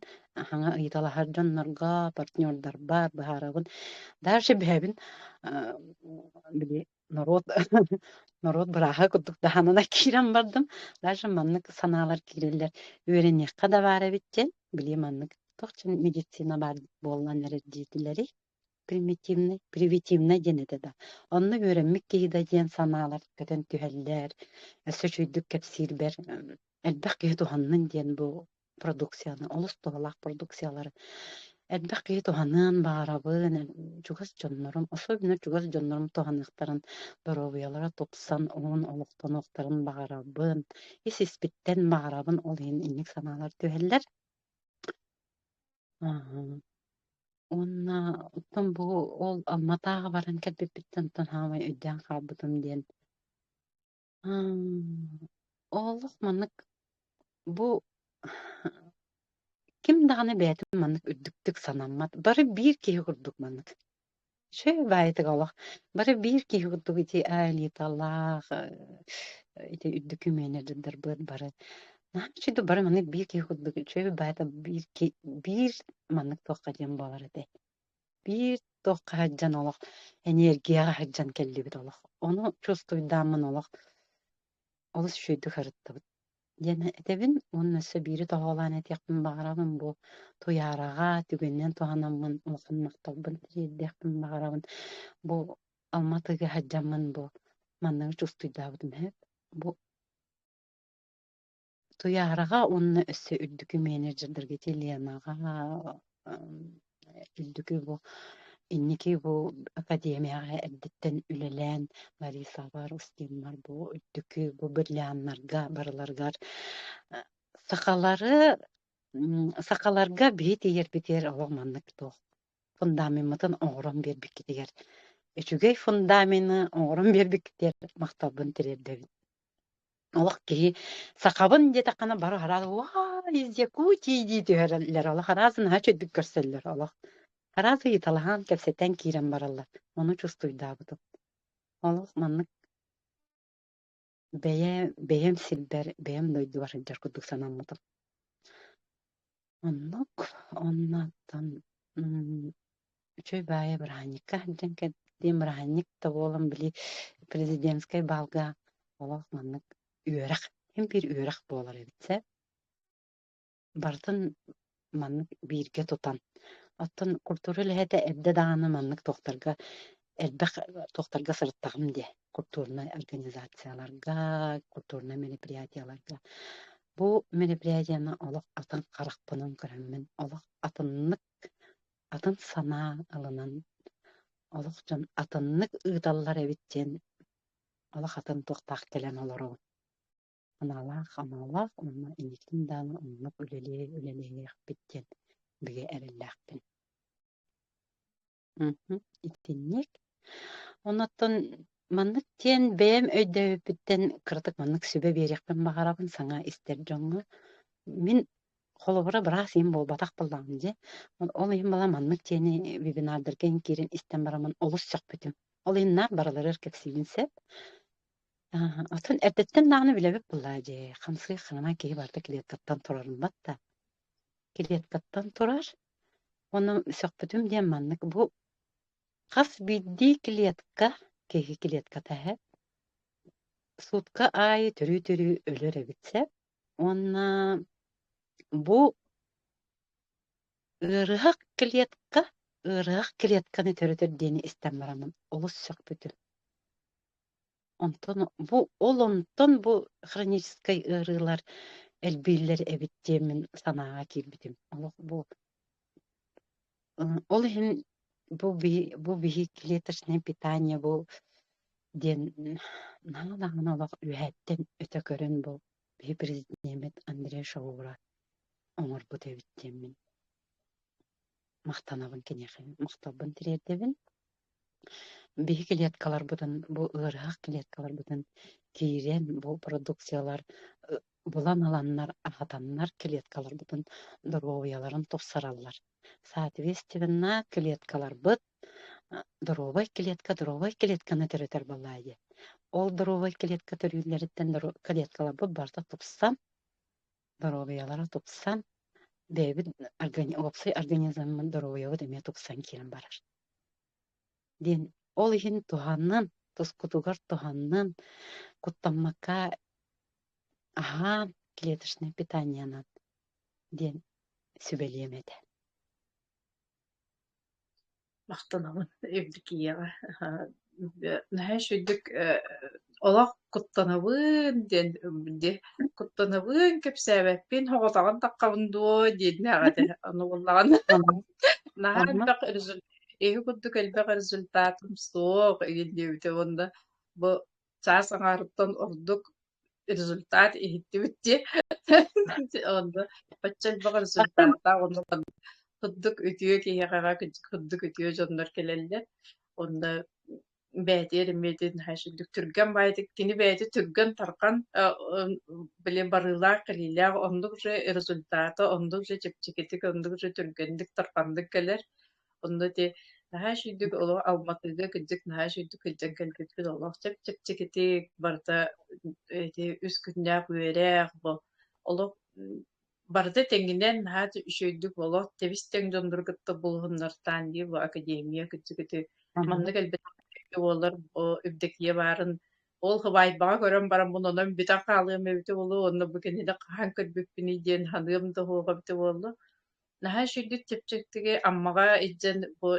Хаҥа ыйыталаһар дьоннорго, партнердарбар быһаарабын. Дальше бэйэбин били норуот норуот бырааһа курдук даһанына киирэн бардым. Даже маннык санаалар киирэллэр. Үөрэниэххэ да баар эбит диэн, били маннык туох чин медицина баар буоллан эрэр диэтилэри примитивнай, привитивнай диэн этэ да. Онно үөрэммит киһи да диэн санаалар көтөн түһэллэр, өссө үчүйдүк кэпсиирбэр элбэх киһи туһаннын диэн бу продукцияны, олус туһалаах продукциялары элбэх киһи туһаныан баарабын, чугас дьоннорум, особенно чугас дьоннорум туһаныахтарын, доруобуйалара тупсан, уһун олохтонуохтарын баҕарабын, ис-испиттэн баҕарабын, ол иһин инник санаалар түһэллэр. Аһ. Уонна оттон бу ол Алма Тааҕа баран кэлбиппиттэн оттон саамай өйдөөн хаалбытым диэн М, Олох маннык бу ким даҕаны бэйэтин маннык үрдүктүк санаммат. Бары биир киһи курдук маннык. Чэ, баайытык олох. Бары биир киһи курдук ити айылыыталаах, э, ити үрдүкү менеджердэрбыт бары Нааччыда бары маннык биир киһи курдук үчүгэй баайата биир ки биир маннык туохха диэн буолар этэй? биир туохха сылдьан олох эниэргийэҕэ сылдьан кэллибит олох. Ону чувствуйдааммын олох олус үчүгэйдик сырыттыбыт. диэн этэбин уонна өссө биири тоһоҕолоон этиэхпин баҕарабын бу туйаараҕа түгэнинэн туһанаммын улахан махталбын тиэрдиэхпин баҕарабын бу Алматыга сылдьаммын бу манныгы чувствуйдаабытым бу Туйаараҕа уонна өссө үрдүкү менеджердэргэ Еленаҕа үрдүкү бу инники бу академияҕа эрдэттэн үлэлээн Ларисабар, Устинмар бу үрдүкү бу бриллианнарга барыларгар сахалары сахаларга биһи тиийэрбитигэр олох маннык туох фундамеммытын оҥорон биэрбиккитигэр үчүгэй фундамены оҥорон биэрбиккитигэр махталбын тириэрдэбин Олох киһи сахабын диэтэххинэ бары араас «Уай, из Якутии» дии түһэрэллэр. Олох араас наһаа чэйдик көрсөллөр олох. Араас ыйыталаһан, кэпсэтэн киирэн бараллар. Ону чувствуйдаабытым. Олох маннык бэйэ бэйэм сирбэр, бэйэм дойдубар сылдьар курдук санаммытым. Оннук. Оннуттан үчүгэй баайа бырааһынньыкка диэн кэлбитим. Бырааһынньык да буолан били президентскэй баалга олох маннык үөрэх, ким биир үөрэх буолар эбит ээ. Барытын маннык бииргэ тутан. Оттон культура үлэһитэ эрдэ даҕаны маннык туохтарга элбэх туохтарга сырыттаҕым диэ. культурнай организацияларга, культурнай мероприятияларга. Бу мероприятияны олох атын харахпынан көрөммүн, олох атыннык, атын санаа ылынан, олох дьон атыннык ыыталлар эбит диэн олох атын туохтаах кэлэн олоробут. Аналаах-амалаах уонна инникитин даҕаны оннук үлэлии үлэлэһиэхпит диэн бигэ эрэллээхпин. Мгм. Итинник. Оннуттан маннык диэн бэйэм өйдөөбүппүттэн кыратык маннык сүбэ биэриэхпин баҕарабын саҥа истэр дьоҥҥо. Мин холобура быраас ийэм буолбатах буоллаҕым дии. Ол ийэм бала маннык диэни вебинардарга киирэн истэн бараммын олус сөхпүтүм. Ол ийэм наар барыларыгар кэпсиибин сөп. Аа, оттон эрдэттэн даҕаны билэбит буоллаа дии. Хамсык хаҥана киһи барыта клеткаттан турарын батта. Клеткаттан турар уонна сөхпүтүм диэн маннык бу хас биирдии клетка киһи клетката иһэ сутка аайы төрүү-төрүү өлөр эбит сэп уонна бу ыарыһах клетка ыарыһах клетканы төрөтөр диэни истэн бараммын олус сөхпүтүм Онтон бу ол онтон бу хроническай ыарыылар элбииллэр эбит диэммин санааҕа киирбитим. Олох бу ол иһин бу би бу биһи клеточное питание бу диэн наана даҕаны олох үөһэттэн өтө көрөн бу биһи президент Андрей Шаура оҥорбут эбит диэммин махтанабын киниэхэ махталбын тириэрдэбин биһи клеткаларбытын бу ыарыһах клеткаларбытын киирэн бу продукциялар булан ыланнар аһатаннар клеткаларбытын доруобуйаларын тупсараллар соответственно клеткаларбыт доруобай клетка доруобай клетканы төрөтөр буоллаа дии ол доруобай клетка төрүүллэриттэн клеткаларбыт барыта тупсан доруобуйалара тупсан, бэйэбит уопсай организммын доруобуйабыт эмиэ тупсан киирэн барар. Диэн ол иһин туһанан, тускутугар туһанан, куттаммакка аһаан, клеточное питаниенан диэн сүбэлиэм этэ. Махтанабын Евдокияҕа. Наһаа үчүгэй олох куттанабын диэн дии. Куттанабын, кэпсээбэппин, соҕотоҕун таххабын дуо диэннээх этэ. Ону буллаҕына наһаа элбэх результат, иһи курдук элбэх результатым суох, диэбитэ уонна бу чаас аҥаарыттан ордук результат иһиттибит дии. Онно бачча элбэх результаттаах онно курдук үтүө киһиэхэ курдук үтүө дьоннор кэлэллэр. Онно бээтиэр имиэтин хайшындык түргэн баайтык кини бэйэти түргэн тархан блин барыылаах кэлиилээх оннук же результата оннук же чэпчэкитик оннук же түргэнник тарханнык кэлэр Онно ити наһаа үчүгдүк олох Алматыга кырдьык наһаа үчүгдүк кырдьан кэлбиппит олох чэпчэкитик барыта эти үс күннээх үөрэх бу олох барыта тэҥинэн наһаа үчүгэйдик олох тэбис-тэҥ дьоннору кытта булуһуннартаан дии бу академия кырдьыгыты маннык элбэттэ буолар бу Евдокия баарын ол хыбайбаҕа көрөн баран мунунан бүтэн хаалыам эбитэ буолу онно бу кинини хаһан көрбүппүнүй диэн саныам да оһоҕо эбитэ буолла наһаа үчүгэйдик чэпчэктиги Аммаҕа илдьэн бу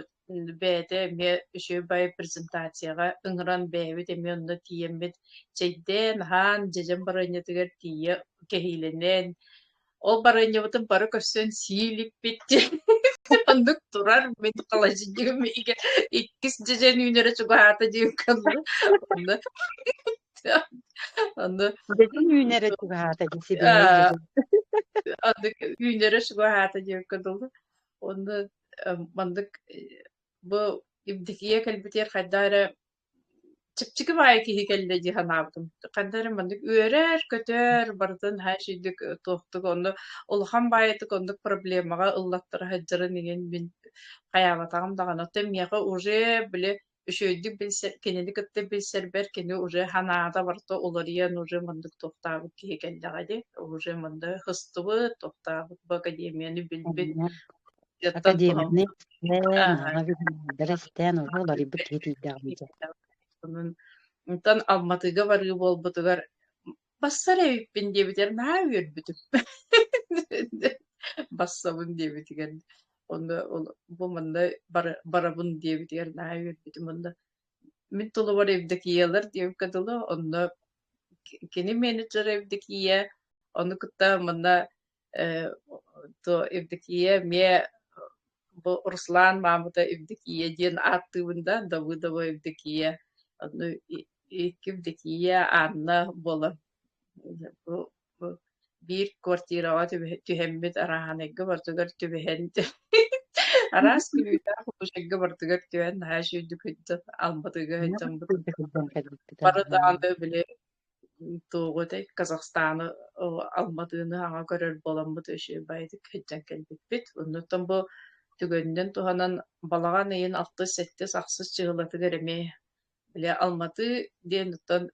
бэйэтэ эмиэ үчүгэй презентацияҕа ыҥыран бэйэбит эмиэ онно тиийэммит чэйдээн аһаан дьэдьэн барыанньатыгар тиийэ кэһиилэнэн ол барыанньабытын бары көрсөн сии илиппит оннук турар мин холодильнигым иһигэр иккис дьэдьэн үүнэрэ чугаһаата диэн онно Аны Дэтин үүнэрэ чугаһаата дии сибиһэй дии. Андык үүнэрэ чугаһаата диэккэ дылы. Онно маннык бу Евдокия кэлбитигэр хайда эрэ чыпчыкым аайы киһи кэллэ дии санаабытым. Ханна эрэ маннык үөрэр, көтөр, барытын һаашийдик туохтук онно улахан баайытык оннук проблемаҕа ыллаттара сылдьарын иҥин мин хайаабатаҕым даҕаны. Оттон миэхэ уже били үчүгэйдик билсэр, кинини кытта билсэрбэр кини уже ханаада барта уларыйан уже мындык тохтаабыт киһи кэллэҕэ дии. Уже мында хыстыбыт, тохтаабыт бу академияны билбит. Академиянай бэрэстээн уже уларыйбыт киһи тиийдэҕим дии. Онон Онтон Алматыга барыы буолбутугар Бассар эбиппин диэбитигэр наһаа үөрбүтүм. Бассабын диэбитигэр онно бу манна барабын диэбитигэр наһаа үөрбүтүм онно мин тулубар Евдокиялар диэбиккэ дылы онно кини менеджера Евдокия ону кытта манна Э, то Евдокия эмиэ бу Руслан маамыта Евдокия диэн ааттыыбын да Давыдова Евдокия ну икки Евдокия Анна буолан бу бу биир квартираҕа түһэммит араанайга бартыгар түбэһэн араас күүтаах художнигга бартыгар түһэн наһаа сүйдүк албатыга барытааны били Тугу этэй, Казахстаны Алматыны аҕа көрөр буоламмыт үчүгэйдик кэлдьэн кэлбиппит. Оннуттан бу түгэнинэн туһанан балаҕан ыйын алтыс-сэттис ахсыс чыһылатыгар эмиэ били Алматы диэн оттон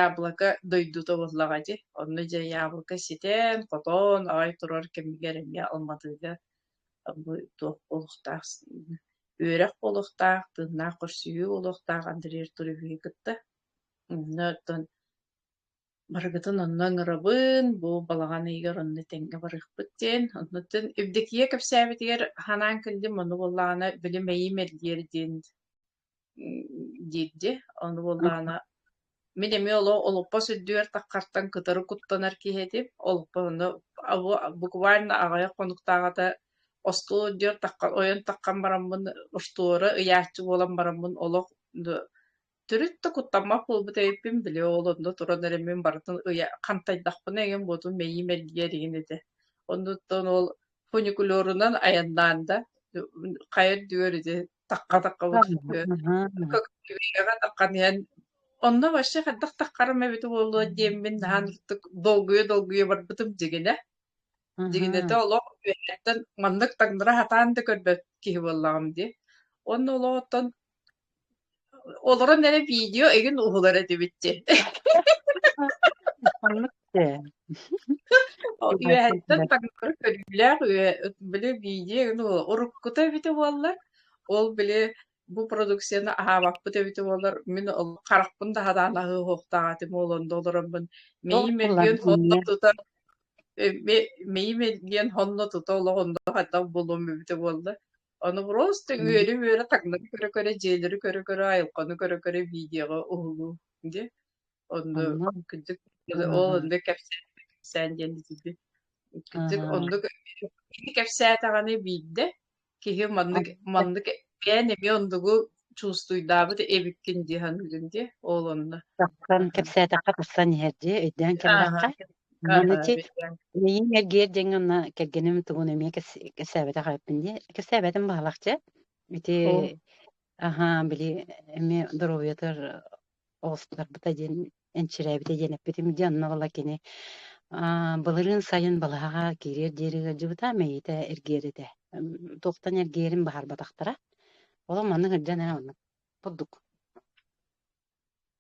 яблоко дойдута буоллаҕа ити. Онно дьэ яблоко ситэн, хотоон, аҕай турар кэмигэр эмиэ Алматыга бу туох буолуохтаах үөрэх буолуохтаах, тыыннаах көрсүһүү буолуохтаах Андрей Артуровиһы кытта. Онно оттон барыгытын онно ыҥырабын, бу балаҕан ыйыгар онно тэҥҥэ барыахпыт диэн. Оннуттан Евдокия кэпсээбитигэр ханаан күндүм ону буоллаҕына били мэйиим эргиэр диэн диирде. Ону буоллаҕына Мин эмиэ олох олоппос үрдүгэр таххартан кытары куттанар киһи этим. Олоппос онно буквально аҕыйах хонуктаах ата остуол үрдүгэр таххан ойон таххан бараммын оштуора ыйааччы буолан бараммын олох төрүт да куттаммат буолбут эбиппин били ол онно туран эрэ мин барытын ыйа хантайдахпына эҥин буотум мэйиим эргийэр игин этэ. Оннуттан ол фуникулерунан айаннаан да хайа үрдүгэр ити таққа-таққа утуйбү. Көккүбиэҕэ таққан иһэн онно вообще хайдах таққарым эбит буолуо диэммин наһан ытык долгуйа-долгуйа барбытым дигинэ. Дигинэтэ олох үөһэттэн маннык таҥнара хатаан да көрбөт киһи буоллаҕым дии. Онно олоҕоттон олорон эрэ видео игин уһулар этибит дии. Э. Ол үөһэттэн таҥнары көрүүлээх үө били видео ну уруккута эбитэ буоллар, ол били бу продукцияны аһаабаппыт эбитэ буоллар, мин ол харахпын таһадаан аһыы уһуохтаах этим буолан да олороммун. Ол Мэйи мэ диэн хонно тутар э мэ мэйи мэ диэн хонно тута олох онно хатах булуом эбитэ буолла. Ону просто үөрү-мүөрү таҥнары көрө-көрө, дьиэлэри көрө-көрө, айылҕаны көрө-көрө видеоҕа уһулуу, дьэ. Онно кырдьык ол онно кэпсээн кэпсээн диэн итити кырдьык оннук киһи кэпсээтэҕини биирдэ киһи маннык маннык бээн эмиэ оннугу чувствуйдаабыт эбиккин дии саныыгын дии ол онно тахсан кэпсээтэххэ тахсан иһэр дии өйдөөн кэлэххэ Миин эргиэр дьиҥ онно кэргэним тугун эмиэ кэсээбэтэх эппин дии кэсээбэтин баһалах дьэ ити аха били эмиэ доруобуйатыгар оҕуспутарбыта диэн энчирээбитэ диэн эппитим дии онно ыла кини былырыын сайын балаһаҕа киириэр диэри ыалдьыбыта мэйитэ эргиэр этэ туохтан эргиэрин баһарбатахтара олох маннык ырдьан ээ оннук бурдук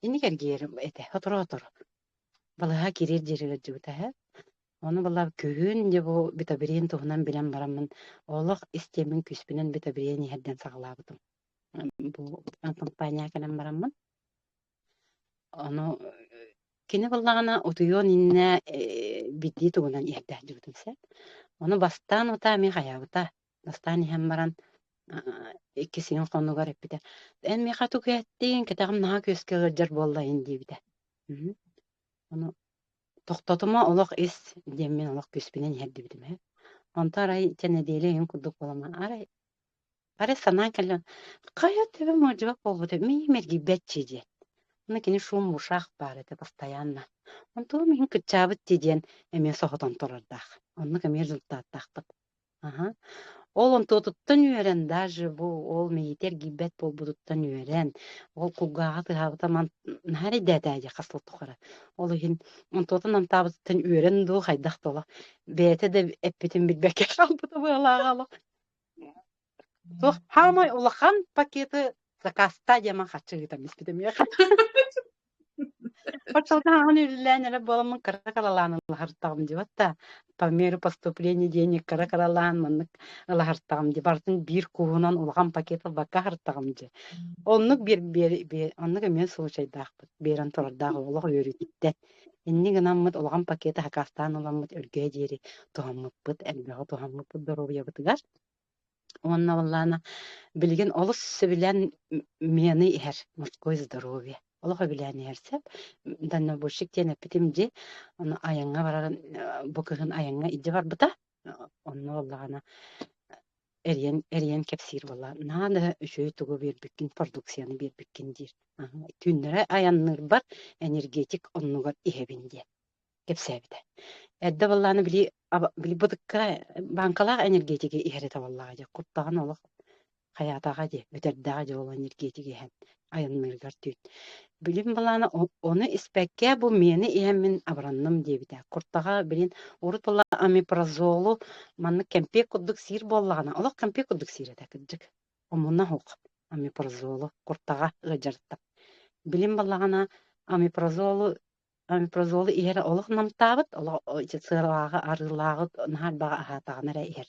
инник эргиэр этэ сотору сотору балаһаҕа киириэр диэри ыалдьыбыта үһэ ону была күһүн дьэ бу битабириин туһунан билэн бараммын олох истиэмин күүспүнэн битабириин иһэрдэн саҕалаабытым бу компания кэлэн бараммын ону кини буллаҕына утуйуон иннэ биллии тугунан иһэрдээхдьибитин сөп ону бастаан утаа эмиэ хайаабыта бастаан иһэн баран икки сиин хонугар эппитэ эн миэхэ тугу эттиҥ кэтэҕим наһаа күөскэ ыалдьар буоллайын диэбитэ ону тохтотума олох ис диэммин олох күүспүнэн иһэрдибитим э онто арай чэ нэдиэлэ иһин курдук буолама арай Арай санаан кэллим, хайа төбө модьугак буолбут миим эргийбэччи диэн. Аны кини шум-бушаах баар этэ постоянно. Онтугу миин кыччаабыт дии диэн эмиэ соһутан турардаах. Оннук эмиэ результаттаахпыт. Аха. Ол онтуотуттан үөрэн даже бу ол мэйиитэ эргийбэт буолбутуттан үөрэн ол кулгааҕа тыаһаабыта ман наһаа эрэйдээтээ дии хас сыл тухары ол иһин онтуотун намтаабытыттан үөрэн дуу хайдах да олох бэйэтэ да эппитин билбэккэ хаалбыта быалааҕа олох Туох хаамай улахан пакеты закаста диэмэн хаччы ыытан испитим үөх. Пачалга хаан үллээн эрэ буоламмын кыра кыралаан ылаһартаҕым дибатта. По меру поступления денег кыра кыралаан маннык ылаһартаҕым ди. Бартын биир кууһунан улахан пакет ылбакка аһартаҕым дии. Оннук биэр биэр оннук эмиэ случайдаахпыт. Биэрэн турардаах олох үөрүтүттэ. Инньэ гынаммыт улахан пакеты хакаастаан ыламмыт өргөһө диэри туһаммыппыт, элбэҕи туһаммыппыт доруобуйабытыгар. Уонна баллаана билигин олус сөбүлээн миэны иһэр мужское здоровье. Олох өбүлээн иһэр сөп. Дальнобойщик диэн эппитим дьи, ону айаҥҥа барарын бу кыһын айаҥҥа илдьэ барбыта. Онно ыллаҕына эрийэн, эрийэн кэпсиир буолла. Наһаа да үчүгэй тугу биэрбиккин, продукцияны биэрбиккин диир. Түүннэри айанныырбар энергетик оннугар иһэбин диэн кэпсээбитэ. Эрдэ баллааны били, били бытыкка бааҥкалаах энергетиги иһэрэ табаллаах дьэ. Куттаҕын олох Хайаатаҕа дии, бүтэрдэҕэ дии ол энергетик иһэн айанныыргар түүн. Билим былаана ону испэккэ бу миэни иһэн мин абыранным диэбитэ. Куртаҕа, билин, урут була амипразолу маннык кэмпиэк курдук сиир буоллаҕына, олох кэмпиэк курдук сиир этэ кырдьык. Омунна уһук амипразолу куртаҕа ыалдьарыттан. Билим буоллаҕына амипразолу амипразолу иһэрэ олох намтаабыт, олох сыалааҕы арыылааҕы наһаа арбаҕа аһаатаҕына эрэ иһэр.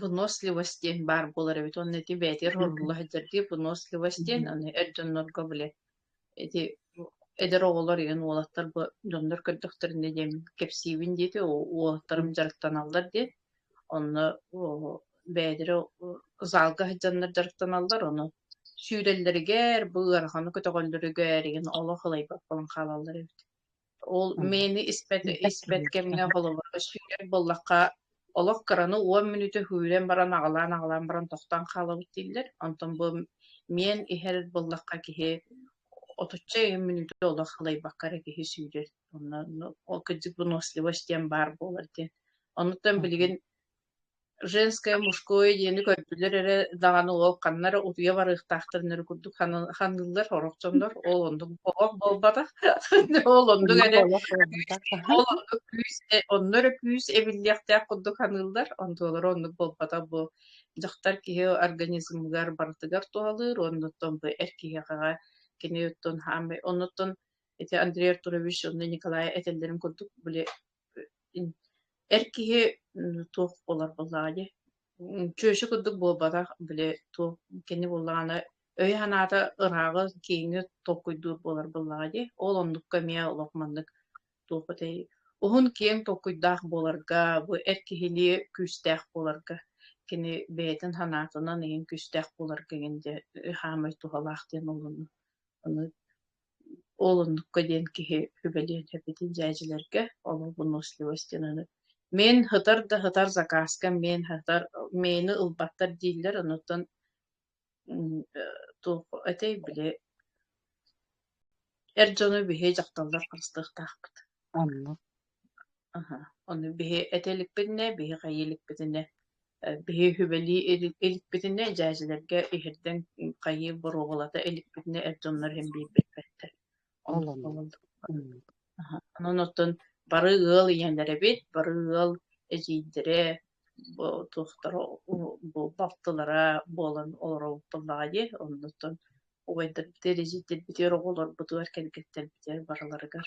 Выносливости баар буолар эбит уонна ити бээтигэр оҥорулла сылдьардыы выносливость диэн аны эр дьоннорго били ити эдэр оҕолор ийэн уолаттар бу дьоннор көрдөхтөрүнэ диэн кэпсиибин диэти уолаттарым дьарыктаналлар диэн онно бэйэлэрэ залга сылдьаннар дьарыктаналлар ону сүүрэллэригэр бу ыараханы көтөҕөллөрүгэр ийэн олох ылайбат буолан хаалаллар эбит Ол мэйэни испэт, испэт кэмҥэ холобурга сүүрэр буоллахха, олох кыраны уон мүнүтэ сүүрэн баран аҕалаан-аҕалаан баран тохтоон хаалабыт дииллэр. Онтон бу миэн иһэр буоллахха киһи отучча ыйын мүнүтэ олох халайбакка эрэ киһи сүүрэр. Онно ол кырдьык выносливость диэн баар буолар диэн. Оннуттан билигин женское, мужское диэни көрдүлэр эрэ даҕаны ол ханна эрэ утуйа барыахтаахтарын эрэ курдук ханыыллар орох дьоннор ол оннук олох буолбатах ол оннук эдэ ол оннук күүс э, онно эрэ күүс эбиллиэхтээх курдук ханыыллар онтулара оннук буолбатах бу дьахтар киһи организмыгар барытыгар туһалыыр оннуттан бу эр киһиэхэ кини оттон хаамай оннуттан эти Андрей Артурович онно Николай этэллэрин курдук били Эр киһи туох буолар буоллаҕыный? Чүөчэ курдук буолбатах, били туох кини буоллаҕына өйө-санаата ырааҕы, киһини толкуйдуур буолар буоллаҕыный? Ол оннукка эмиэ олох маннык туох этэй уһун-киэҥ толкуйдаах буоларга, бу эр киһилии күүстээх буоларга, кини бэйэтин санаатынан иһин күүстээх буоларга иһин диэн хаамай туһалаах диэн олону Ол оннукка диэн киһи сүбэлиэн эбитин дьээдьилэргэ, олох выносливостинаны. Мин һытар да һытар закаска, мин һытар, мейни ылбаттар дииллэр, онуттан туох этэй били эр дьоно биһи дьахталлар харыстыахтаахпыт. Онно Аһа, ону биһи этэ иликпитинэ, биһи хайа иликпитинэ, э, биһи үһүбэлии ил- иликпитинэ, дьээдьэлэргэ иһирдэн хайыы боруобалата иликпитинэ, эр дьоннор иһин биэрбэппэттэр. Ол Оннук оннук. буолаллар. М. Аһа. Онон оттон бары ыал ийэлэрэбит, бары ыал эдьиийдэрэ, бу туохтара у- бу балтылара буолан олоробутталлаҕа дии. Оннуттан убайдарбытыгар, эдьиийдэрбитигэр, оҕолорбутугар, кэргэттэрбитигэр барыларыгар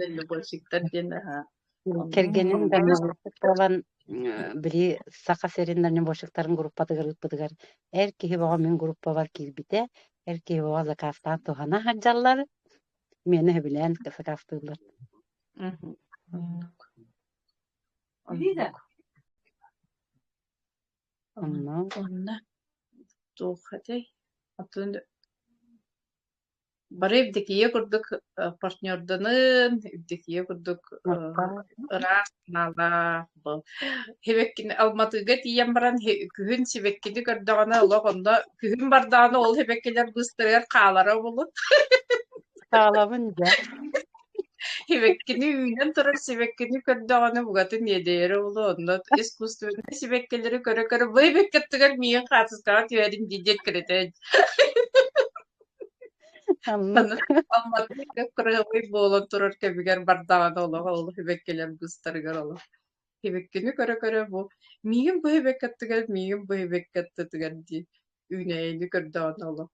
Дальнобойщиктар диэн кэргэним дальнобойщиктарбан били Саха сирин дальнобойщиктарын группатыгар ыыппытыгар эр киһи бөҕө мин группабар киирбитэ эр киһи бөҕө закаастаан туһана сылдьаллар миэнэ сөбүлээн сакаастыыллар онно онно туох этэй Бары Евдокия курдук партнерданын, Евдокия курдук ыраас маала Хибеккини Алматыга тиийэн баран күһүн сибэккини көрдөҕүнэ олох онно күһүн бардаҕына ол хибеккилэр быстарыгар хаалара булун. Хаалабын дьэ. Сибэккини үүнэн турар сибэккини көрдөҕүнэ букатын иэдэйэрэ буолуо онно искусственнай сибэккилэри көрө-көрө бэйбэккэ аттыгар миигин хаартыскаҕа түһэрин дии диэт кырэтэн Анна. Алматыга кыраҕай буолан турар кэмигэр бардаҕына олох ол сибэккилэр густарыгар олох сибэккини көрө-көрө бу миигин бу сибэкки аттыгар миигин бу сибэкки аттытыгар дии үүнэйини көрдөҕүнэ олох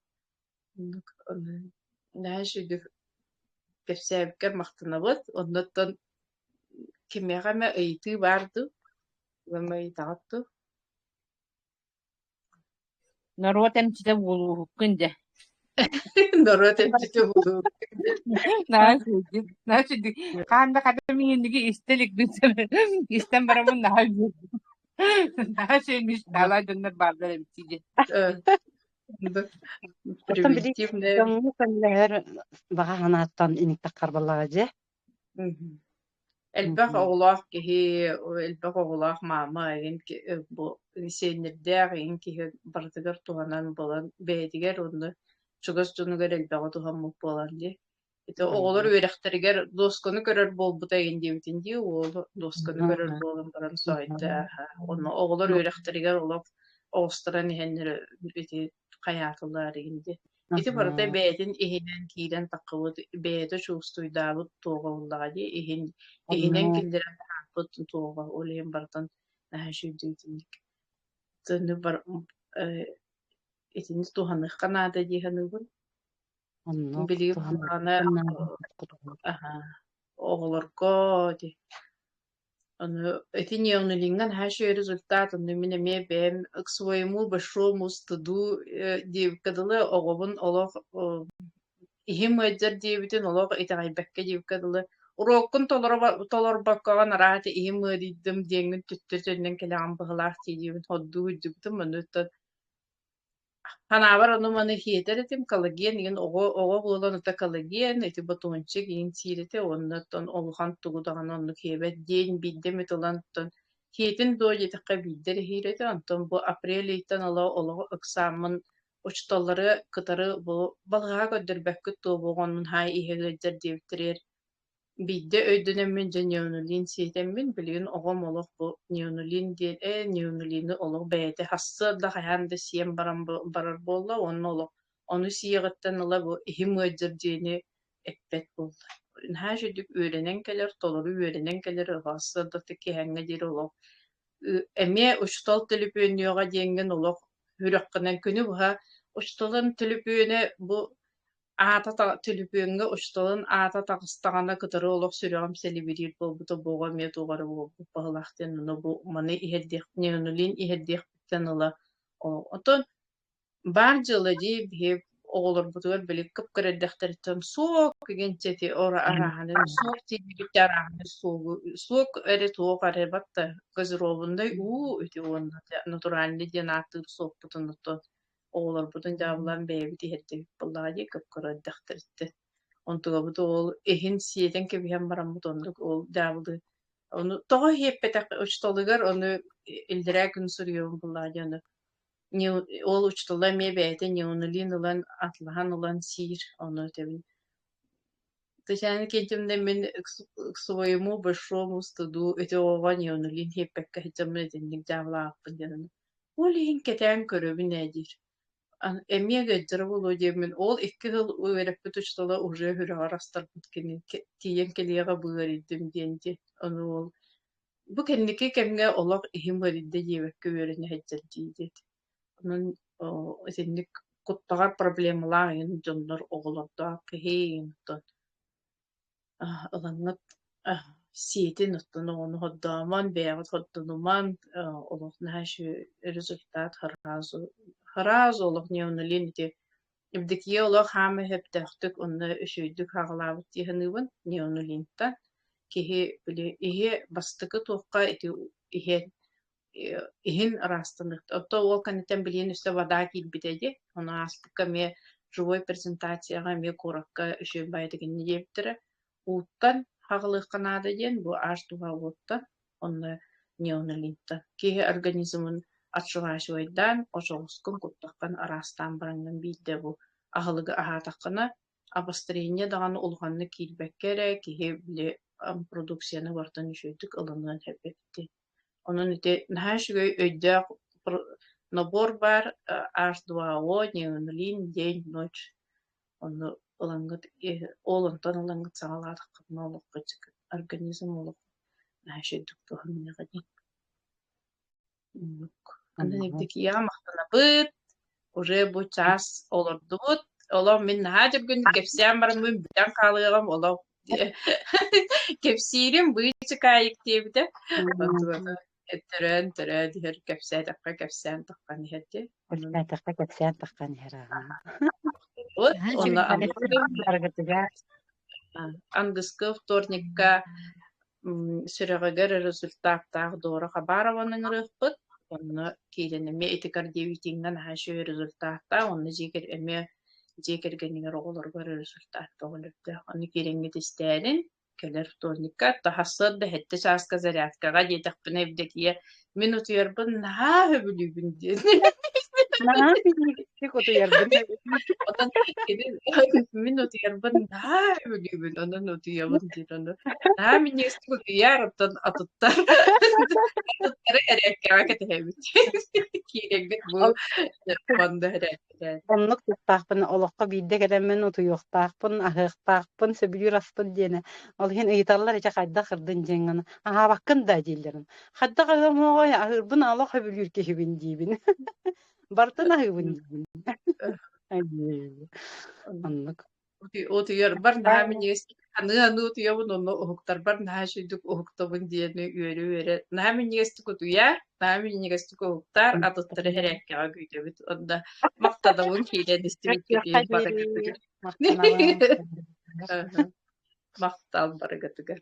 Дальше кэпсээбиккэ махтанабыт. Оннуттан кимиэхэ эмэ ыйытыы баар дуу? Ыам ыйытаҕыт дуу? Норуот эмчитэ буолууһуккун дэ. Норуот эмчитэ буолууһуккун дэ. Наас үрдүк, наас үрдүк. Хаан да хата мин инники истэ илик истэн барамын наһаа үөрдүм. Наһаа сeenmiş, наһаа дьоннор бааллар эмчи дэ. Оттон били дьоҥҥо көмөлөһөр баҕа санааттан инниктик харбаллаҕа дьэ. Элбэх оҕолоох киһи, элбэх оҕолоох маама иһин бу сиэннэрдээх иһин киһи барытыгар туһанан булан бэйэтигэр онно чугас дьонугар элбэҕи туһаммыт буолан дии. Ити оҕолор үөрэхтэригэр дуосканы көрөр буолбута игин диэбитин дии уолу дуосканы көрөр буолан баран соойда онно оҕолор үөрэхтэригэр олох оҕустаран иһэннэр ити хайаатылар игин дии ити барыта бэйэтин иһинэн киирэн таххыбыт бэйэтэ чувствуйдаабыт туоҕа буллаҕа дии иһин иһинэн киллэрэн таһаарбыт туоҕа ол иһин бартан сүйдүүтүнник тыынны бар итини туһаныахха наада дии саныыбын Онно Билигин туһанарга куһаҕаны кутуһан аһа оҕолорго ди Ону итиньион илиҥҥэн хаши результат онну мин эмиэ бэйэм к своему большому стыду э, диэбиккэ дылы оҕобун олох э, иһим ыалдьар диэбитин олох итэҕэйбэккэ диэбиккэ дылы уруоккун толорбо толорбоккоҕун араата иһим ыарыйдым диэҥҥин түттэ төннөн кэлэҕин быһылаах дии диэбин хордуу үрдүбүтүм оннуттан Ханаабар ону маны хиэтэр этим, Калаген игин оҕо оҕо буолан ото Калаген, ити ботуунчик игин сиирите онно тон олухан тугу даҕаны оннук хиэбэт диэн биирдэ эмит ылан тон хиэтин доо диэтэххэ биирдэр иһиирэтэ онтон бу апрель ыйтан ала олоҕу ыксааммын учуталлары кытары бу балҕаһа көрдөрбөккүт туо буоҕунмун хаай иһэ ыалдьар диэбиттэригэр Биирдэ өйдөнөммүн дьэ Ньүөмүлиин сиэтэммин, билигин оҕом олох бу Ньүөмүлиин диэн, ээ Ньүөмүлиини олох бэйэтэ сарсыарда хайаан да сиэн баран бу- барар буолла уонна олох ону сиэҕиттэн ыла бу иһим ыалдьар диэни эппэт буолла. Наһаа үчүгэй үөрэнэн кэлэр, толору үөрэнэн кэлэр сарсыардаттан киэһээҥҥэ диэри олох ы- эмиэ учуутал төлөпүөннүөҕэ диэҥҥин олох үрэххинэн күнү быһа учууталын төлөпүөнэ бу аата та төлөпүөҥҥэ учууталын аата таҕыстаҕына кытары олох сүрэҕим сэлибириир буолбута буоҕа эмиэ туох эрэ буолбут баһылаах диэн ону бу маны иһэрдиэхпиний онулиин иһэрдиэхпиттэн ыла оттон баар дьыала дии биһи оҕолорбутугар били кыпкыр эрдэхтэриттэн суох кигинчэти ора арааханын суох тиийбиккэ арааханы суогу суок эре туох эре батта газировундай уу үти уонна натуральный диэн ааттыыр суоппутун оттон оҕолорбутун дьаабылаан бэйэбит иһэрдибит буоллаҕа дии көккөрө эрдэхтэриттэн. Онтукабыт уол иһин сиэтэн кэбиһэн бараммыт оннук уол дьаабылы ону тоҕо иһиппэтэх учууталыгар ону иллэрээ күн суруйуом буоллаҕа дии ону не ол учуутала эмиэ бэйэтэ неонулин ылан атлаһан ылан сиир ону этэбин Татьяна Кентьевна мин к своему большому стыду эти оҕоҕо неонулин иһиппэккэ сылдьаммын итинник дьаабылаахпын диэн Ол иһин кэтээн көрөбүн ээ диир. Эмиэ Гайдара Володяммын ол икки сыл үөрэппит учуутала уже үрэҕэр астарбыт кини тиийэн кэлиэҕэ бу ыарыйдым диэн диэн. Ону ол бу кэнники кэмҥэ олох иһим ыарыйда диэбэккэ үөрэнэ сылдьар дии диэт. Онон итинник куттаҕар проблемалаах дьоннор оҕолордоох киһи онтон ылаҥҥыт сиэтин оттон оҕону хордоомон, бэйэҕит хордонуман, олох наһаа үчүгэй результат хараазу хараазу олох неоналин ити Евдокия олох хаама сөптөөхтүк онно үчүгэйдик хаалаабыт дии саныыбын неоналинтан. Киһи били иһиэ бастакы туохха ити иһиэн иһин ыраастаныахта. Оттон ол кэнниттэн билиэн өссө вода киирбитэ дии. Ону ааспыкка эмиэ живой презентацияҕа эмиэ куоракка үчүгэй баайдыгынны диэбиттэрэ. Ууттан хаҕылыахха наада диэн бу аш туһа уоттан, онно неонолинтан. Киһи организмын отшиваачивайдаан, очоҕускун куттаххан араастаан бараҥҥын биирдэ бу аһылыгы аһаатаххына, обострение даҕаны улаханнык киирбэккэ эрэ киһи били продукцияны бартан үчүгэйдик ылыныан эбэбитин Онон ити наһаа үчүгэй өйдөөх набор баар Ars Duo неонолин день, ночь. Онно ылаҥҥыт ол онтон ылаҥҥыт саҕалаатаххытына олоххут организм олох наһаа чэйдик туһаныаҕа дии. Оннук. Аны дэгидэгийэ махтанабыт. уже бу чаас олордубут. Олох мин наһаа дьөргүннүк кэпсээн бараммын бүтэн хаалыаҕым олох кэпсиирим быычык аайык диэбитэ төрөөн төрөөн иһэр кэпсээтэххэ кэпсээн таххан иһэр дьэ кэпсээтэххэ кэпсээн таххан иһэр вот онно ангыскы вторникка сүрэҕигэр результаттаах Дора Хабарованы ыҥырыахпыт. Онно киирэн эмиэ ити кардиовитиҥҥа наһаа үчүгэй результаттаах. Онно дьиэ кэр эмиэ дьиэ кэргэнигэр оҕолоругар результат көҕүлөрдөөх. Ону киириҥҥит истээрин, кэлэр вторникка, тахсыар да сэттэ чааска зарядкаҕа диэтэхпинэ, Евдокия Мин утуйарбын наһаа сөбүлүүбүн диэн. Наһаа ситиһиктик утуйарбын Онон кини мин утуйарбын наһаа сөбүлүүбүн, онон утуйабын диэн ону наһаа минньигэстик утуйар, оттон атыттар атыттары эриэккэҕэ кэтэһэбит. Киирэгдик бу куонда эрэ Оннук тустаахпын, олоххо биирдэ кэлэммин утуйуохтаахпын, аһыахтаахпын, сөбүлүүр аспын диэни. Ол иһин ыйыталлар ичи хайдах кырдын дьиэҥ гына, аһаабаккын да дииллэрин. Хайдах аһыамыаҕай, аһыырбын ала сөбүлүүр киһибин диибин. Бартын аһыыбын диибин. Оннук. Утуйарбар наһаа минньигэстик аныы-аныы утуйабын онно уһуктарбар наһаа үчүгдүк уһуктабын диэни үөрэ-үөрэ наһаа минньигэстик утуйаар, наһаа минньигэстик уһуктаар, атыттары эһэрээккэҕэ күүтэбит. Онно махтанабын киирэн истибиккитиин барыгытыгар. Махтал барыгытыгар.